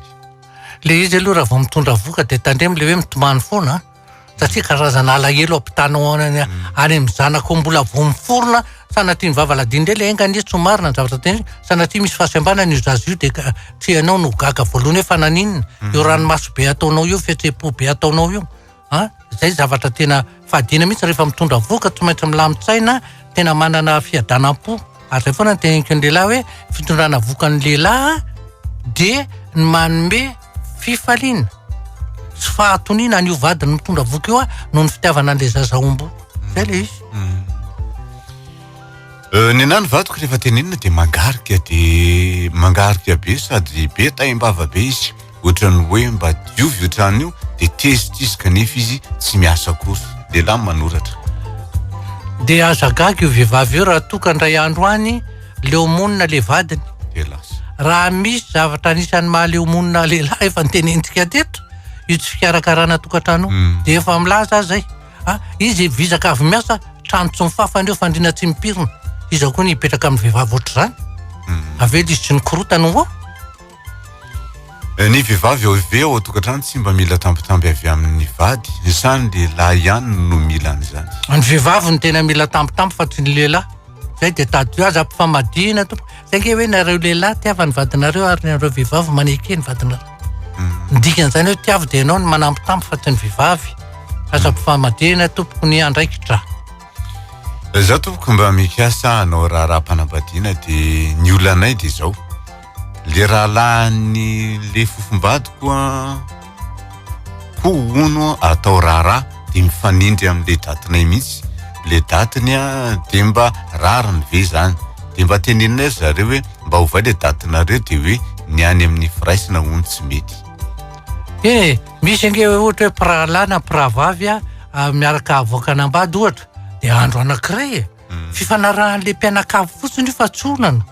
Le izy aloha raha vao mitondra vohoka de tandremo le hoe mitomany foana a! satria karazana alahelo ampitanao any any amin'ny zanako mbola vao miforona sanatria ny vava ladino ndray le enga anie tsy ho marina ny zavatra ten sanatria misy fahasembanana io zaza io de ka tsy ianao no ho gaga voalohany hoe fa naninona io ranomaso be ataonao io fihetseham-po be ataonao io an, izay zavatra tena fadiana mihitsy rehefa mitondra vohoka tsy maintsy milamin-tsaina tena manana fiadanam-po ary izay foana ny teneniko ny lehilahy hoe fitondrana vohoka ny lehilahy dia ny manome fifaliana sy fahatoniana an'io vadiny mitondra vohoka io noho ny fitiavana an'ilay zaza ombo izay le izy Euh, ny anany vadiko rehefa tenenina dia mangarika dia mangarika be sady be taim-bava be izy ohatran'ny hoe mba diovy io trano io dia tezitra izy kanefa izy tsy miasa akory. Lehilahy no manoratra. Dia aza gaga io vehivavy io raha toa ka indray andro any leo monina ilay vadiny. Dia lasa. Raha misy zavatra anisan'ny maha leo monina lehilahy efa notenenintsika teto io tsy fikarakarana tokantrano io hmm. dia efa milaza aza izay. Ah, izy vizaka avy miasa trano tsy mifafana io fandriana tsy mipirina. Iza koa ny hipetraka amin'ny vehivavy ohatr'izany? Hmm. Avy eo dia izy tsy nikorotana ho Eh, ny vehivavy ao ive ao an-tokantrano tsy mba mila tambitamby avy amin'ny vady sa ny lehilahy ihany no mila an'izany Ny vehivavy no tena mila tambitamby fa tsy ny lehilahy. Zay dia tadidio aza ampifamadihina tompoko. Zay nge hoe nareo lehilahy tiava ny vadinareo ary nareo vehivavy maneke ny vadinareo. Ny dikan'izany hoe tiavo dia ianao no manambitamby fa tsy ny vehivavy. Aza ampifamadihina tompoko ny andraikitra. Za tompoko mba mikasa hanao raharaha-panambadiana dia ny olanay dia zao. Le rahalahin'ny le fofombadiko ko hono atao raharaha de mifanindry amle datinay mihitsy le datiny de mba rariny ve zany de mba teneninay ry zareo hoe mba ovay le datinareo de hoe ny any amin'ny firaisana hono tsy mety. Eny e, misy ange ohatra hoe mpirahalahy na mpirahavavy miaraka havoaka anambady ohatra de andro anankiray e, fifanarahan'le mpianakavy fotsiny io fa tsy olana.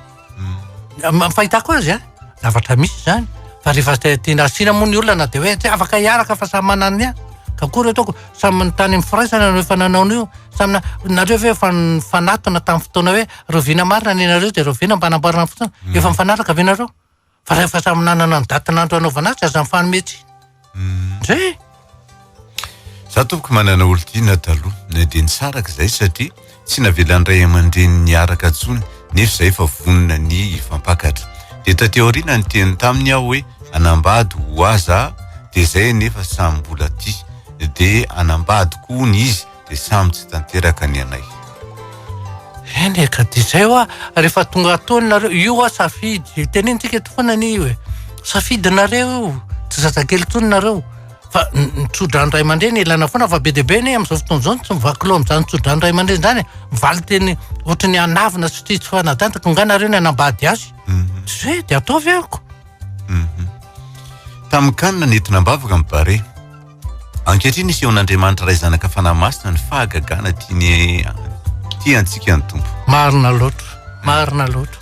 Ny fahitako azy an, zavatra misy izany, fa rehefa tiana asiana moa ny olona dia hoe tsy afaka hiaraka fa samy manana ny azy, ka akory ataoko, samy tany amin'ny firaisana no efa nanao an'io, samy na, nareo ve efa nifanatona tamin'ny fotoana hoe rahoviana marina ny anareo dia rahoviana mba hanamboarana ny fotoana, efa mifanaraka ve nareo? Fa rehefa samy nanana ny datin'andro hanaovana azy aza mifanome tsy. Hmm. Zay. Za tompoko manana olon-tiana taloha, na dia nisaraka izay satria tsy navelan'ny ray aman-dreny niaraka intsony nefa izay efa vonona ny hifampakatra. Dia taty aoriana niteny taminy aho hoe anambady ho aza dia izay nefa samy mbola tia. Dia anambady koa hono izy. dia samy tsy tanteraka ny anay. Eny e, ka dia izay hoa rehefa tonga atoa nareo, io hoa safidy, tenenintsika eto foana anie io e, safidinareo io, tsy zazakely intsony nareo, fa ny tsodrano ray aman-dreny ilaina foana, fa be dia be anie amin'izao fotoana izao ny tsy mivaky loha amin'izany tsodrano ray aman-dreny izany e, valin-teny ohatry ny hanavina sy tsy fanadantako, nga nareo ny hanambady azy, mhm. tsy izay dia ataovy amiko. Mhm. Tamin-kanina nentina am-bavaka ny bare. Ankehitriny isehon'Andriamanitra Ray Zanaka Fanahy Masina ny fahagagana tiany tia antsika ny Tompo. Marina loatra, marina loatra.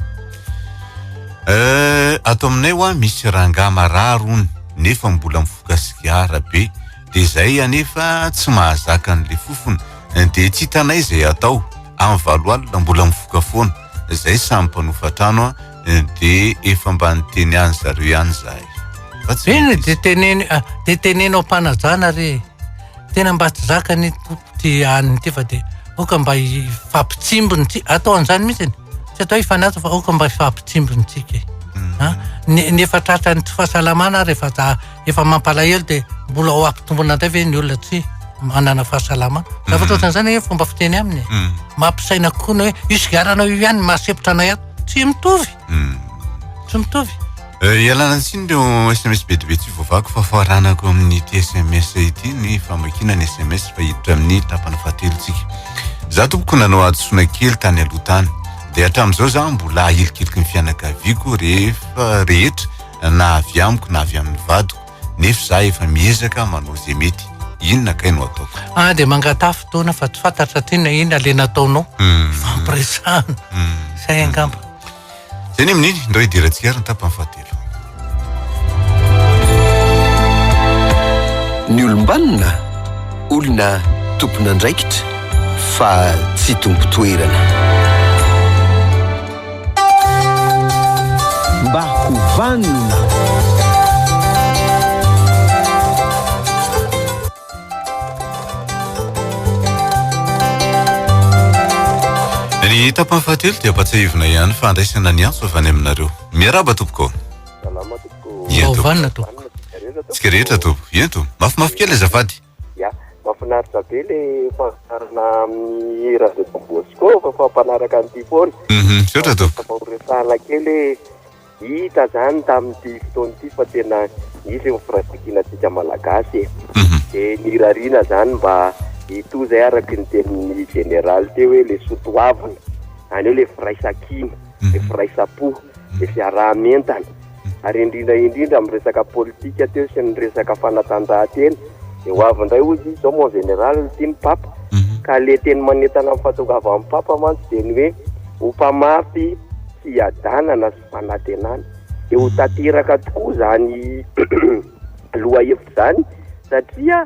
Euh, ato aminay wa misy rangahy marary hono nefa mbola mifoka sigara be de zay anefa tsy mahazaka an'le fofona de tsy hitanay zay atao, amin'ny valo alina mbola mifoka foana, zay samy mpanofa trano an. de efa mba niteny any zareo ihany za e. Fa tsy Eny de teneno ah, de teneno am-panajana re. Tena mba tsy zakan'ny tompo ty an'ny ty fa de oka mba hifampitsimbiny ty atao an'izany mihitsy tsy atao hifanaja fa oka mba hifampitsimbiny tsika e. Hmm. Ah, ny efa tratran'ny tsy fahasalamana ary efa za efa mampalahelo dia mbola ho ampitombona indray ve ny olona tsy manana fahasalama zavatra mhm. ohatrany zany hoe fomba fiteny aminy mhm. mampisaina kokoa ny hoe io sigaranao io ihany mahasepotra anay ato tsy mitovy mhm. tsy mitovy eh, ialana tsiny ireo sms be dia be tsy voavako fa faranako amin'ity sms ity ny famakiana ny sms fa hiditra amin'ny tapana fahatelontsika za tompoko nanao hadisoana kely tany aloha tany dia hatramin'izao za mbola ahilikiliky ny fianakaviako rehefa rehetra na avy amiko na avy amin'ny vadiko nefa za efa miezaka manao ze mety inona kay no ataoko ah de mangataha fotoana fa tsy fantatra ty na inona le nataonao hmm. fampiresahana hmm. zay angamba zay ny amin'iny ndray hidirantsika ary ny tapany fahatelo ny olombanona olona tompon'andraikitra fa tsy tompo toerana Mba ho vanona. Ny tapany fahatelo dia ampatsiahivina ihany fa andraisana ny antso avy any aminareo. Miaraba tompoko. Salama tompoko. Mba ho vanona tompoko. Tsika rehetra tompoko. Ento, mafimafy kely azafady. Ya, mafinaritra be le fandaharana amin'ny radio Don Bosco fa fa mpanaraka an'ity foana. Mhm, misaotra tompoko. Mba horesahana kely hoe hita zany tamin'ity fotoana ity fa tena nisy ny firaisankina antsika malagasy e. Mhm. Dia nirariana zany mba hitohy zay araky ny tenin'ny jeneraly teo hoe le soa toavina, zany hoe le firaisankina, le firaisam-po, le fiaraha-mientana. ary indrindra indrindra amin'ny resaka politika teo sy ny resaka fanatanjahantena, dia ho avy indray hoy izy zao mon général ity ny papa, mhm. ka le teny manentana amin'ny fahatongavan'ny papa mantsy dia ny hoe ho mpamafy fiadanana sy fanatenana, dia ho tanteraka tokoa izany lohahevitra izany satria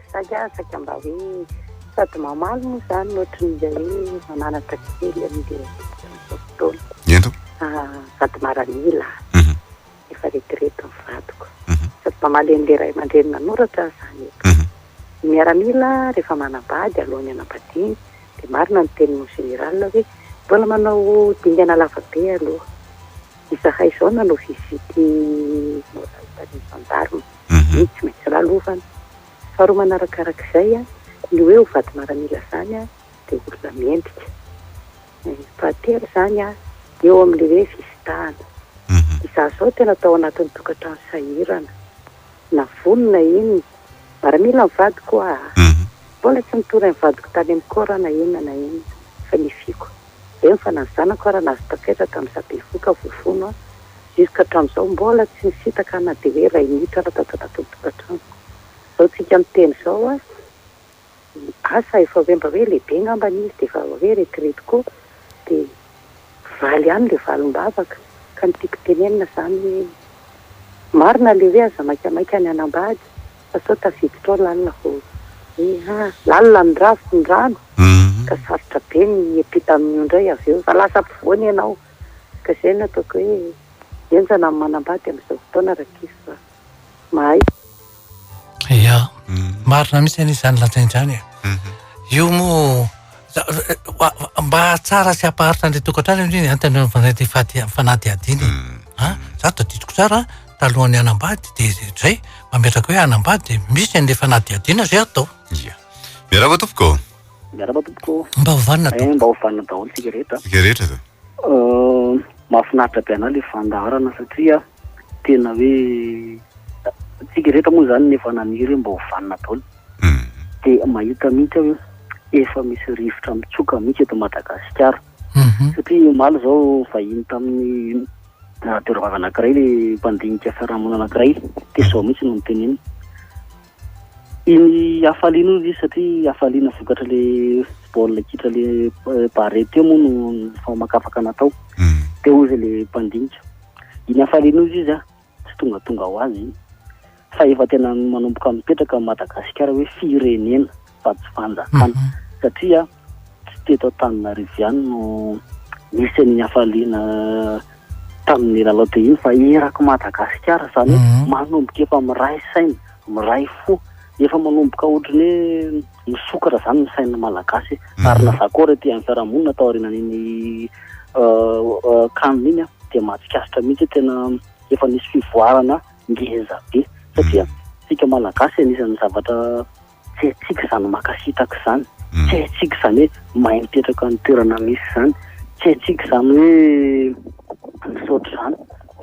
Mihazakazaka mba hoe sady mamaly moa izany no ohatry ny izay hoe mananatra kely amin'ilay fotoana. Ento. Ah, sady maranila. Mhm. Efa retirety ny vadiko. Mhm. Sady mamaly an'ilay ray aman-dreny nanoratra aho izany eto. Mhm. Ny miaramila rehefa manambady alohan'ny hanambadiany dia marina ny teninao général hoe mbola manao dingana lava be aloha. Izahay izao nanao visite morale tany gendarme, hoe tsy maintsy lalovana. Faharoa manarakarak'izay, ny hoe ho vady maramila izany dia olona mendrika. Fahatelo izany, eo amin'ilay hoe visitahana. Izaho izao tena tao anatin'ny tokantrano sahirana. Na vono na inona, maramila ny vadiko ho'a! Mbola tsy nitory an'i vadiko tany amin'ny corps na inona na inona, fa nifiko. Eny fa na ny zanako ary nahazo tafetra tamin'ny sabevohoka voafono aho. Jusque hatramin'izao mbola tsy nisintaka aho na dia hoe iray minitra aza tato anatin'ny tokantranoko. Izao tsika miteny izao an, i Asa efa hoe mba hoe lehibe angamba izy dia efa hoe retraite koa dia valy ihany ilay valim-bavaka. Ka ny tiako tenenina izany hoe marina ilay hoe aza maikamaika ny hanambady. fa sao tafiditra ao lalina vao iny ha! Lalina ny rà sy ny rano ka sarotra be ny hiampita amin'io indray avy eo fa lasa ampovoany ianao ka izay no ataoko hoe henjana ny manambady amin'izao fotoana rankizy fa mahay Ia, marina mihitsy anie izany lazain'izany e! Io moa Mba hahatsara sy hampaharitra an'ilay tokantrano indrindra ny antony mifandray amin'ny fanadihadiana e. Hmm. Izaho tadidiko tsara talohan'ny hanambady dia izay mametraka hoe hanambady dia misy an'ilay fanadihadiana izay atao. Ia. Miarahaba tompoko. Miarahaba tompoko. Mba hovanina eh, tompoko. Mba hovanina daholo tsika rehetra. Tsika rehetra zany. Euh, mahafinaritra be anao ilay fandaharana satria tena hoe tsika rehetra moa zany nefa naniry hoe mba ho vanona daholo mhm. dia mahita mihitsy aho efa misy rivotra mitsoka mihitsy eto Madagasikara mhm. satria omaly zao vahiny tamin'ny ah, toeravava anakiray le mpandinika fiarahamonina anakiray dia zao mihitsy no niteneny Iny hafaliana hoy izy satria hafaliana vokatry le baolina kitra le barre teo moa no famakafaka natao mm. teo hoy izy le mpandinika iny hafaliana hoy izy a tsy tongatonga ho azy iny fa efa tena manomboka mipetraka Madagasikara hoe firenena fa tsy fanjakana satria tsy teto Antananarivo ihany no nisy an'iny hafaliana tamin'ny lalao dia iny fa eraky Madagasikara izany mhm. manomboka efa miray saina, miray fo, efa manomboka ohatran'ny hoe misokatra izany ny sain'ny Malagasy mhm. ary na zakora ety amin'ny fiarahamonina tao aorianan'iny euh, euh, kanina iny dia mahatsikaritra mihitsy tena efa nisy fivoarana ngeza be satria mhm. tsika Malagasy anisan'ny zavatra tsy haintsika izany makasitaka izany, tsy haintsika izany hoe mahay mipetraka amin'ny toerana misy izany, tsy haintsika izany hoe misaotra izany.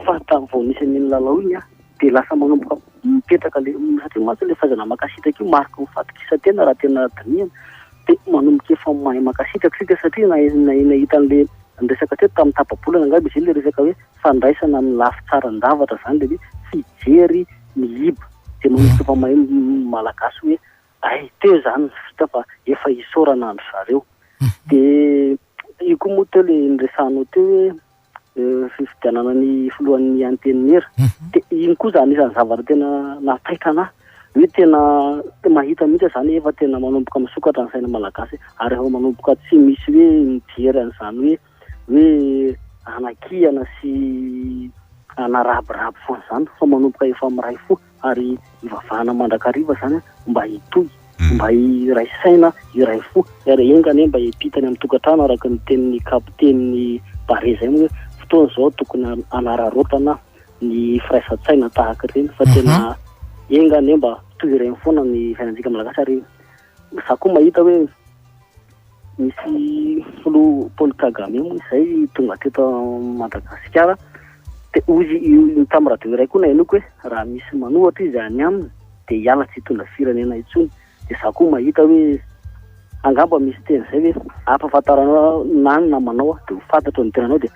Fa tamin'ny vao nisy an'iny lalao iny aho dia lasa manomboka mipetraka le, satria mantsy ilay fahaizana makasitaka io mariky ny fahatokisan-tena raha tena dinihana, dia manomboka efa mahay makasitaka isika satria nahay nahay nahita an'le niresaka teto tamin'ny tapa-bolana angamba izy iny le resaka hoe fandraisana amin'ny lafy tsaran-javatra izany dia hoe tsy hijery ny hiba dia manomboka efa mahay ny Malagasy hoe hay teo izany ny vita fa efa isaorana an-dry zareo. Dia io koa moa teo ilay niresahanao teo hoe fifidianana ny filohan'ny antenimiera dia iny koa izany isan'ny zavatra tena nampitaitra anà hoe tena mahita mihitsy aho izany efa tena manomboka misokatra ny saina Malagasy ary efa manomboka tsy misy hoe mijery an'izany hoe hoe anakihana sy anarabirabo foana izany fa manomboka efa miray fo ary ivavahana mandrakariva izany mba hitohy hmm. mba hiray saina hiray fo ary enga anie mba hipitany amin'ny tokantrano araka ny tenin'ny kapiten'ny bare izay moa hoe fotoana izao tokony anararaotana ny firaisan-tsaina tahaka ireny fa tena mhm. enga anie mba toy ireny foana ny fiainantsika malagasy ary Za koa mahita hoe misy filoha Paul Kagame moa izay tonga teto Madagasikara. Dia hoy i Tam radio iray koa nahenoako hoe raha misy manohatra izy any aminy dia hiala tsy hitondra firenena intsony. Dia za koa mahita hoe angamba misy teny izay hoe ampahafantaranao na ny namanao dia ho fantatro ny tenanao dia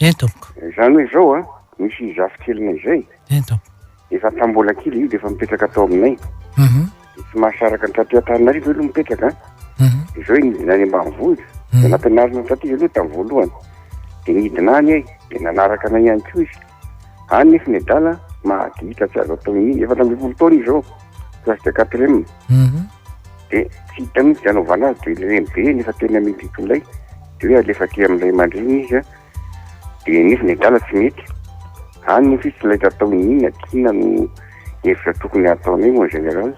Eny tompoko. Izany hoe izao a, misy zafikelinay izay. Eny tompoko. Efa tamin'ny mbola kely izy dia efa mipetraka tao aminay. Uhum. Dia tsy mahasaraka ny taty Antananarivo aloha mipetraka a. Uhum. Dia izao izy nidina any ambanivohitra. Dia nampianarina taty izy aloha tamin'ny voalohany. Dia nidina any ay, dia nanaraka anay ihany koa izy. Any nefa ny adala mahadiitra tsy azo atao mihitsy. Efatra ambin'ny folo taona izy izao, classe de quatrième. Uhum. Dia tsy hita mihitsy dia anaovana azy dia ilay renibe nefa tena mety hitolay dia hoe alefa aty amin'ny ray aman-dreny izy a dia nefa ny adala tsy mety any nefa izy tsy laitra atao inona aty inona no hevitra tokony hataonay mon général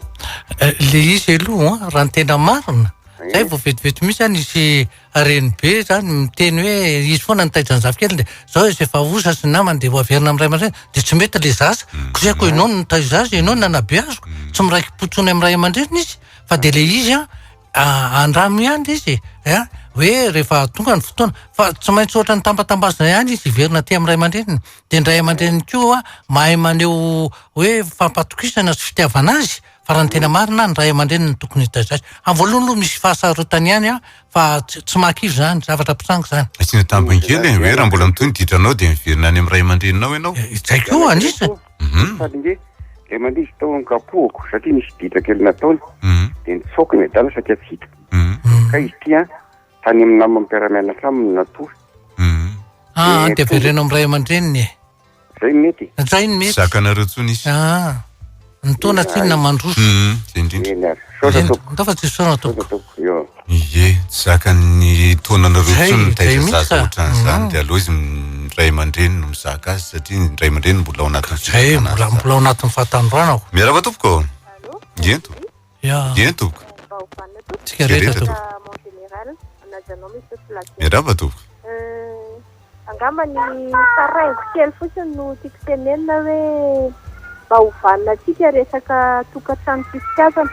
eh, le izy aloha raha ny tena marina zay vao vetivety mihitsy any izy reny be zany miteny hoe izy foana nitaitra ny zafikely dia zao izy efa osa sy namany dia hoaverina amin'ny ray aman-dreny dia tsy mety le zaza hmm. ko zay ko ianao no nitaiza azy ianao no nanabeaziko hmm. tsy miraiki-potsony amin'ny ray aman-dreny izy fa dia le izy an andramo ihany izy a hoe rehefa tonga ny fotoana fa tsy maintsy ohatra ny tambatambazina ihany izy hiverina aty amin'ny ray aman-dreniny dia ny ray aman-dreniny koa mahay maneho hoe fampatokisana sy fitiavana azy Fa raha ny tena marina, ny ray aman-dreny no tokony hitaiza azy. Amin'ny voalohany aloha misy fahasarotany ihany an, fa tsy tsy mahakivy izany, zavatra mpitranga izany. Asiana tambiny kely e, hoe raha mbola mitohy ny ditranao dia miverina any amin'ny ray aman-dreninao ianao. Izay koa anisany. Hum. Sady nge ilay mandidy tao an-kapohiko satria nisy ditra kely nataony Hum. dia nitsaoka ny adala saika tsy hita. Hum. Ka izy ity an, tany amin'ny namany mpiara-mianatra aminy no natory. Hum. Ah, dia avereno amin'ny ray aman-dreniny e. Zay no mety. Zay no mety. Zakanareo tsony izy. Ah. Ny taona tsinona na mandroso. Hum, zay indrindra. Eny ary. Misaotra tompoko. Ndao fa tsy hisaorana tompoko. Tompoko, io. Ie, tsy zakan'ny taonanareo tsony mitaiza zaza otran'izany dia aleo izy ny ray aman-dreny no mizaka azy satria ny ray aman-dreny mbola ao anatin'ny fizakan'azy tsara. Zay, mbola ao anatin'ny fahatanoranako. Miarahaba tompoko. Allô? Ie, tompoko. Dia tompoko. Tsika rehetra tompoko. Miarahaba tompoko. Angamba ny taraingo kely fotsiny no tiako tenenina hoe mba ho vanona antsika resaka tokantrano sy fitiavana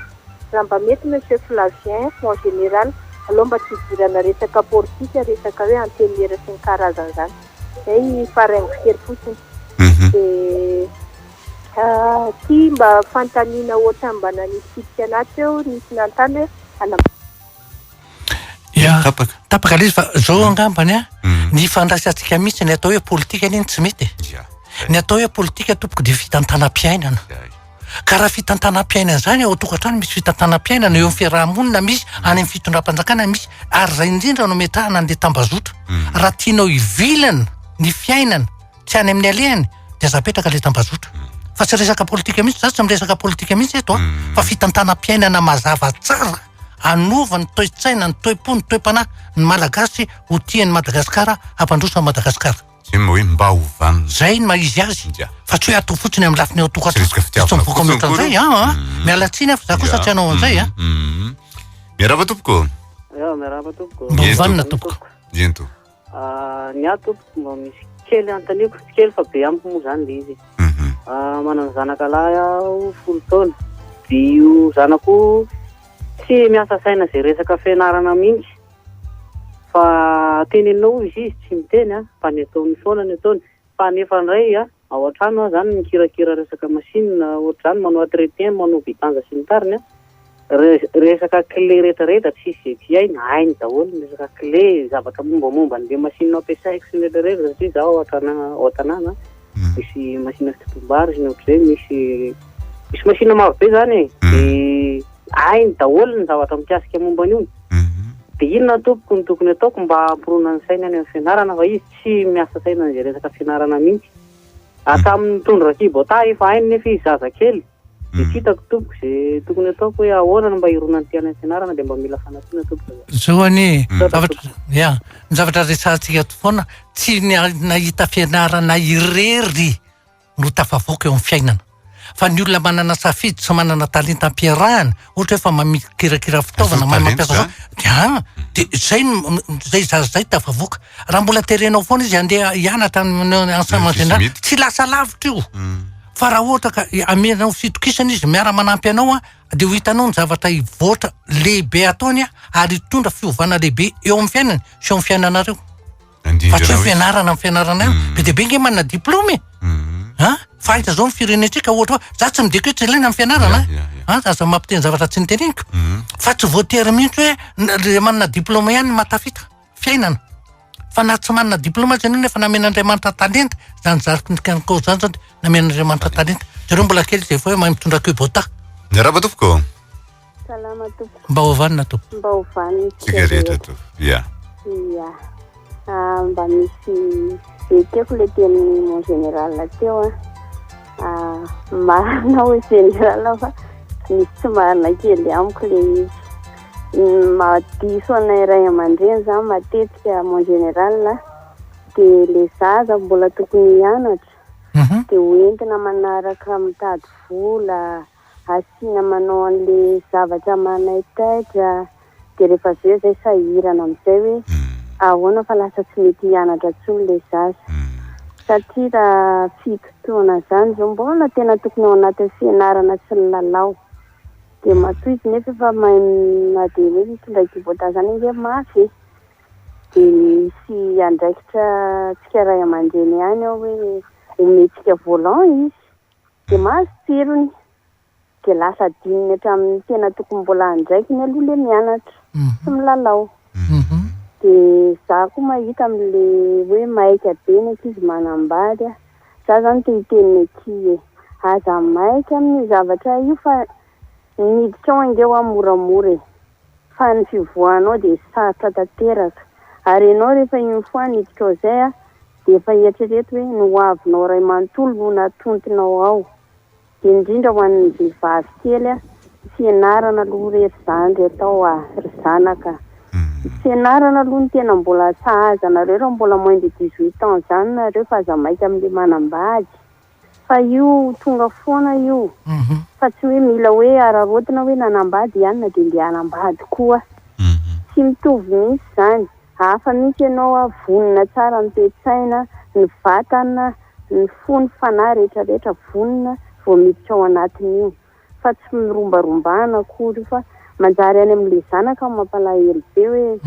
raha mba mety Monsieur Flavien mon général aleo mba tsy hidirana resaka politika resaka hoe antenimiera sy ny karazany izany. Izay ny taraingo kely fotsiny. Dia. Ity mba fanontaniana ohatran'ny mba nanisy fitsipika anaty teo, nisy nanontany hoe hanam-. Ya, tapaka. Tapaka ilay izy fa izao angambany an, ny ifandraisantsika mihitsy ny atao hoe politika anie no tsy mety e. Ya. Ny atao hoe politika tompoko dia fitantanam-piainana. Ya. Ka raha fitantanam-piainana izany ao an-tokantrano misy fitantanam-piainana, eo amin'ny fiaraha-monina misy, any amin'ny fitondram-panjakana misy, ary izay indrindra no ametrahana an'ilay tambazotra. Raha tianao hivilana ny fiainana. Tsy any amin'ny alehany dia aza apetraka ilay tambazotra. Hmm. Fa tsy resaka politika mihitsy, za tsy miresaka politika mihitsy eto, hmm. fa fitantanam-piainana mazava tsara anova ny toe-tsaina, ny toe-po, ny toe-panahy ny Malagasy ho tian'ny Madagasikara, hampandroso an'i Madagasikara. Zay moa hoe mba ho vanona. Zay ny mahizy azy. Fa tsy hoe ato fotsiny amin'ny lafiny ao tokatra. Tsy fitiavana fotsiny akory. Zay, ah, mm. miala tsiny aho, za kosa tsy anao an'izay. Ah. Mm, mm, miarahaba tompoko. Miarahaba tompoko. Mba ho vanona tompoko. Ento. Ny ahy tompoko mba misy kely anontaniako, tsy kely fa be amiko moa izany ilay izy. Mhm. Ah, manana zanaka lahy aho folo taona, dia io zanako tsy miasa saina izay resaka fianarana mihitsy, fa teneninao hoy izy izy tsy miteny an, fa ny ataony foana ny ataony, Fa nefa ndray a, ao an-trano a, zany mikirakira resaka machine ohatr'izany, manao entretien, manao vidange sy ny tariny a, resaka clé rehetra rehetra tsisy izay tsy hainy, hainy daholo ny resaka clé, zavatra mombamomba an'le machine ampiasaiko sy ny rehetra rehetra, satria zaho ao an-trana, ao an-tanàna a, misy machine fitotoam-bary sy ny ohatr'izay, misy, misy machine maro be zany e, de hainy daholo ny zavatra mikasika momba an'io, de inona tompoko no tokony ataoko mba hampirona ny sainy any amin'ny fianarana fa izy Tsy miasa saina izay resaka fianarana mihitsy. Hatramin'ny nitondra rakibotà efa hainy nefa izy zaza kely. Dia tsy hitako tompoko izay tokony ataoko hoe ahoana no mba hironan'ny mpianany ny fianarana dia mba mila fanampiana tompoko za. Zao anie zavatra ya ny zavatra resahantsika eto foana tsy ny nahita fianarana irery. no tafavoaka eo amin'ny fiainana. Fa ny olona manana safidy tsy manana talenta ampiarahana, ohatra hoe fa mamikirakira fitaovana, mahay mampiasa zao, dia an, dia izay no, izay zaza izay tafavoaka. Raha mbola terenao foana izy handeha hianatra any amin'ny enseignement général, Ankizy mety. tsy lasa lavitra io. Fa raha ohatra ka ameranao fitokisana izy, miara-manampy anao an, dia ho hitanao ny zavatra hivoatra lehibe ataony an, ary hitondra fiovana lehibe eo amin'ny fiainany sy eo amin'ny fiainanareo. Fa tsy hoe fianarana ny fianarana ihany. Mm. Be dia be ange manana diplaoma e. Mm. Ha? Fahita izao ny firenentsika ohatra hoe za tsy midika hoe tsy ilaina ny fianarana. Ha? Aza mampiteny zavatra tsy niteneniko. Mm. Fa tsy voatery mihitsy hoe le manana diplaoma ihany matafita fiainana. Fa na tsy manana diplaoma aza ianao nefa namen'Andriamanitra talenta, zany zariko ny kanko zany zany namen'Andriamanitra talenta. Jereo mbola kely izay hoe mahay mitondra kubota. Miarahaba tompoko. Salama tompoko. Mba ho vanona tompoko. Mba ho vanona. Tsika rehetra tompoko. Ya. Ya. Ah, mba misy ekeko le teny mon général teo ah. Ah, marina hoe général fa misy tsy marina kely amiko le izy. Mahadiso anay ray aman-dreny zany matetika mon général dia le zaza mbola tokony hianatra mhm. dia hoentina manaraka mitady vola asiana manao anle zavatra manaitaitra de refa avy eo zay sahirana amizay hoe ahoana fa lasa tsy mety hianatra tsony le zaza satria ra fito taona zany zao mbola tena tokony ao anatin'ny fianarana sy ny lalao de matoa izy nefa efa mahay na de hoe mitondra kibota zany ange mafy e de misy andraikitra tsika ray aman-dreny ihany ao hoe omentsika volant izy dia mahazo tsirony dia lasa adinony hatramin'ny tena tokony mbola andraikiny aloha ilay mianatra sy milalao dia za koa mahita amin'ilay hoe maika be ny ankizy manambady a, za zany te hiteny ny akia e, aza maika amin'io zavatra io fa ny hiditrao ange hoa moramora e, fa ny fivoahanao dia sarotra tanteraka ary ianao rehefa une fois niditrao izay a, Dia efa eritrereto hoe ny ho avinao iray manontolo no natontinao ao. Dia indrindra ho an'ny vehivavy kely a, tsy ianarana aloha re ry zandry atao a, ry zanaka a. Tsy ianarana aloha ny tena mbola sahaza anareo raha mbola moins de dix-huit ans zany nareo fa aza maika amin'ilay manambady. fa io tonga foana io fa tsy hoe mila hoe araraotina hoe nanambady i anona dia ndeha hanambady koa tsy mitovy mihitsy izany hafa mihitsy ianao a vonona tsara ny toe-tsaina ny vatana ny fo ny fanahy rehetra rehetra vonona vao miditra ao anatin'io fa tsy mirombarombana akory fa manjary any amin'ilay zanaka no mampalahelo be hoe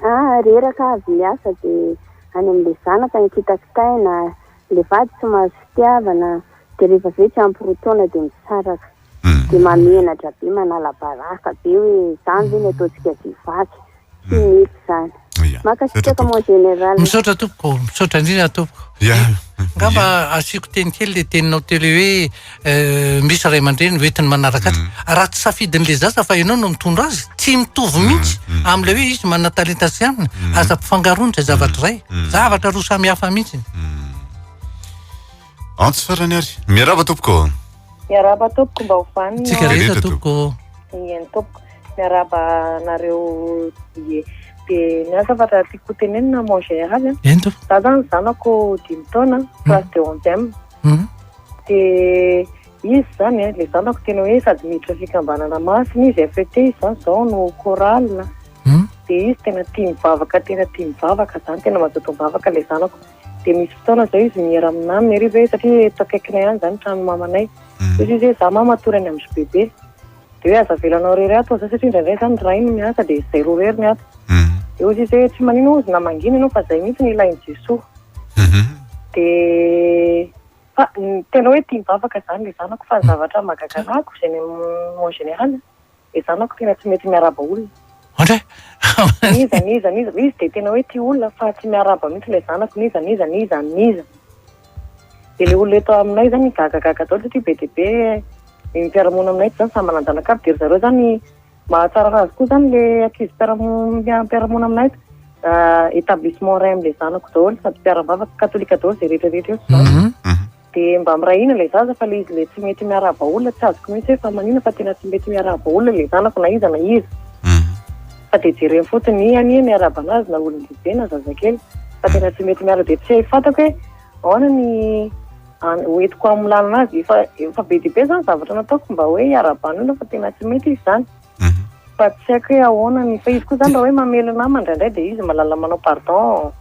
ah reraka avy miasa dia any amin'ilay zanaka ny kitakitaina, ilay vady tsy mahazo fitiavana dia rehefa avy eo tsy ampy roa taona dia misaraka dia mahamenatra be, manala baraka be hoe izany ve ny ataontsika vehivavy? Tsy misy izany. Ia. Misaotra Mankasitraka tompoko. mon général. Misaotra tompoko, misaotra indrindra tompoko. Ia. Angamba asiako teny kely ilay teninao teo ilay hoe eh, misy ray aman-dreny hoentiny manaraka azy. Raha tsy safidin'ilay zaza fa ianao no mitondra azy, tsy mitovy mihitsy amin'ilay hoe izy manana talenta sy aminy. Aza ampifangaroana izay zavatra izay. Zavatra roa samy hafa mihitsy. Antso farany ary. Miaraba tompoko. Miaraba tompoko mba ho vaniny. Tsika rehetra tompoko. Iany tompoko. Miaraba anareo dia dia ny asa fatra tiako tenenina mon GR avy. Ento. Za zany zanako dimy taona, hmm. classe de 11e. Hmm. Dia izy zany eh, le zanako tena hoe sady miditra fikambanana masina izy FET izy zany zao no chorale. Hmm. Dia izy tena tia mivavaka, tena tia mivavaka zany, tena mazoto mivavaka le zanako. dia misy fotoana izao izy miera amin'ny namany ary izy hoe satria eto akaikinay ihany izany tranon'ny mamanay. Mm. Dia izy hoe za mama atory any amin'ny bebe. Dia hoe aza avelanao irery ato za satria indraindray izany ray no miasa dia izay roa irery ny ato. Mm. Dia hoy izy hoe tsy manino hozy na mangina ianao fa izay mihitsy ny ilain'i Jesoa. Mhm. Dia fa tena hoe tia mivavaka izany ilay zanako fa ny zavatra mahagaga anako en général dia za manko tena tsy mety miarahaba olona. Ohatra hoe. N'iza n'iza n'iza, izy dia tena hoe tia olona fa tsy miarahaba mihitsy ilay zanako, n'iza n'iza n'iza n'iza. Dia ilay olona eto aminay izany migagagaga daholo satria be dia be ny mpiara-monina aminay eto izany samy manan-janaka aby dia ry zareo izany mahatsara azy koa izany ilay ankizy mpiara-monina mpiara-monina aminay eto. Établissement ray amin'ilay zanako daholo sady mpiara-bavaka, katolika daholo izay rehetra rehetra eo. Dia mba miray hina ilay zaza fa ilay izy ilay tsy mety miarahaba olona tsy azoko mihitsy hoe fa manina fa tena tsy mety miarahaba olona ilay zanako na iza na iza. Fa dia jereny fotsiny i anie miarahaba anazy na olon-dehibe na zazakely fa tena tsy mety miarahaba dia tsy hay fantako hoe ahoana ny hoentiko amin'ny lalana azy efa be dia be izany zavatra nataoko mba hoe hiarahabana olona fa tena tsy mety izy izany. Fa tsy haiko hoe ahoana ny, fa izy koa zany raha hoe mamely namany indraindray dia izy mahalala manao pardon,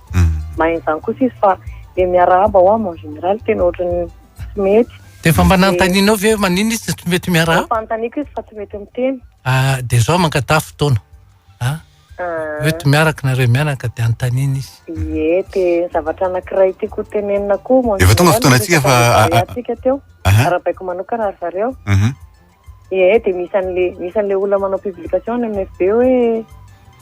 mahay an'izany kosa izy fa le miarahaba ho'aho mais en général tena ohatran'ny tsy mety. Dia efa mba nanontanianao ve hoe maninona izy tsy mety miarahaba? Efa anontaniako izy fa tsy mety miteny. Ah, dia izao mangataha fotoana an! Mety miaraka nareo mianaka dia anontaniana izy. Ie, dia ny zavatra anankiray tiako ho tenenina koa mon général, efa tonga fotoanantsika fa, resaka le barea tsika teo, arahabaiko manokana ry zareo, Ee, dia misy an'le misy an'le olona manao publication any amin'ny FB hoe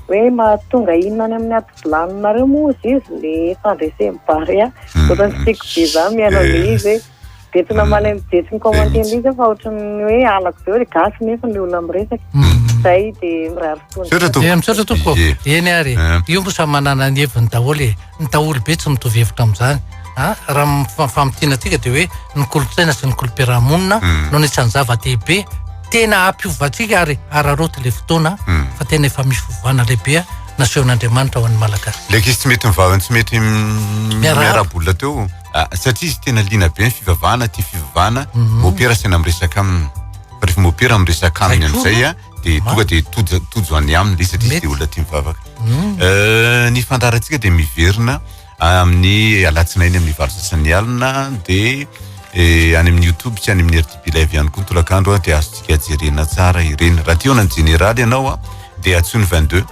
hoe mahatonga inona any amin'ny ady bilaninareo moa hozy izy le fandresen'ny barea. Hmm, Ohatran'ny tsy tiako be zany mihaino an'le izy hoe dia tsy namaly an'i Jetsy ny commentaire-n'le izy aho fa ohatran'ny hoe halako be hoe gasy nefa le olona miresaka. Hmm. Zay dia mirary Misaotra tompoko. Eh misaotra tompoko. Ye. Eny ary. Eh. Io moa samy manana ny heviny daholo e. Ny daholo be tsy mitovy hevitra amin'izany. Ha? Ah, raha ny fa- famintiana antsika dia hoe ny kolontsaina sy ny kolom-piarahamonina Hmm. no anisan'ny zava-dehibe tena hampiovantsika ary araraoty ilay fotoana Hmm. fa tena efa misy fivavahana lehibe nasehon'Andriamanitra ho an'ny Malagasy. Ilay ankizy tsy mety mivavany tsy mety m- Miarahaba. miarabola teo ah, satria izy tena liana be ny fivavahana tia fivavahana Mhm. mopera sy tena miresaka aminy fa rehefa mopera miresaka aminy Haiko. amin'izay a dia tonga dia tojo tojo any aminy ilay izy satria izy dia olona tia mivavaka. Hmm. Eh, ny fandaharantsika dia miverina amin'ny alatsinainy amin'ny valo sasany alina dia eh, any amin'ny youtube sy any amin'ny rtb live ihany koa ny tolakandro a dia azontsika jerena tsara ireny raha tiona ny jeneraly ianao a dia atsoiny 22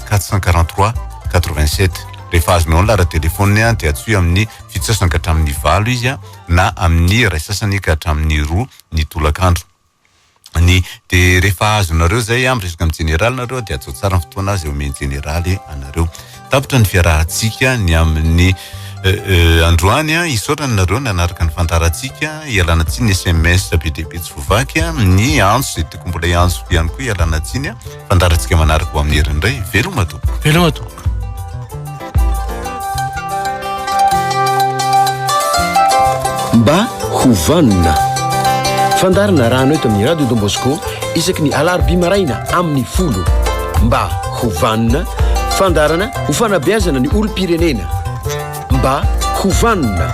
443 87 rehefa azonao ny lara telefôniny a dia atsoy amin'ny fito sasany ka hatramin'ny valo izy a na amin'ny ray sasany ka hatramin'ny roa ny tolakandro ny de rehefa azonareo zay a miresaka amin'ny jeneraly nareo de ajotsy tsara ny fotoana azy omen'ny jeneraly anareo tapitra ny fiarahantsika ny amin'ny androany a hisaotra anareo nanaraka ny fandaharantsika ialana tsiny ny sms be dia be tsy voavaky a ny antso zay tokony mbola hiantso ihany koa ialana tsiny a Fandaharantsika manaraka ho amin'ny heriny indray. Veloma tompoko. Veloma tompoko. Mba ho vanona. Fandarina rano eto amin'ny Radio Don Bosco isaky ny alarobia maraina amin'ny folo. Mba ho vanona. Fandarana ho fanabeazana ny olom-pirenena. Mba ho vanona.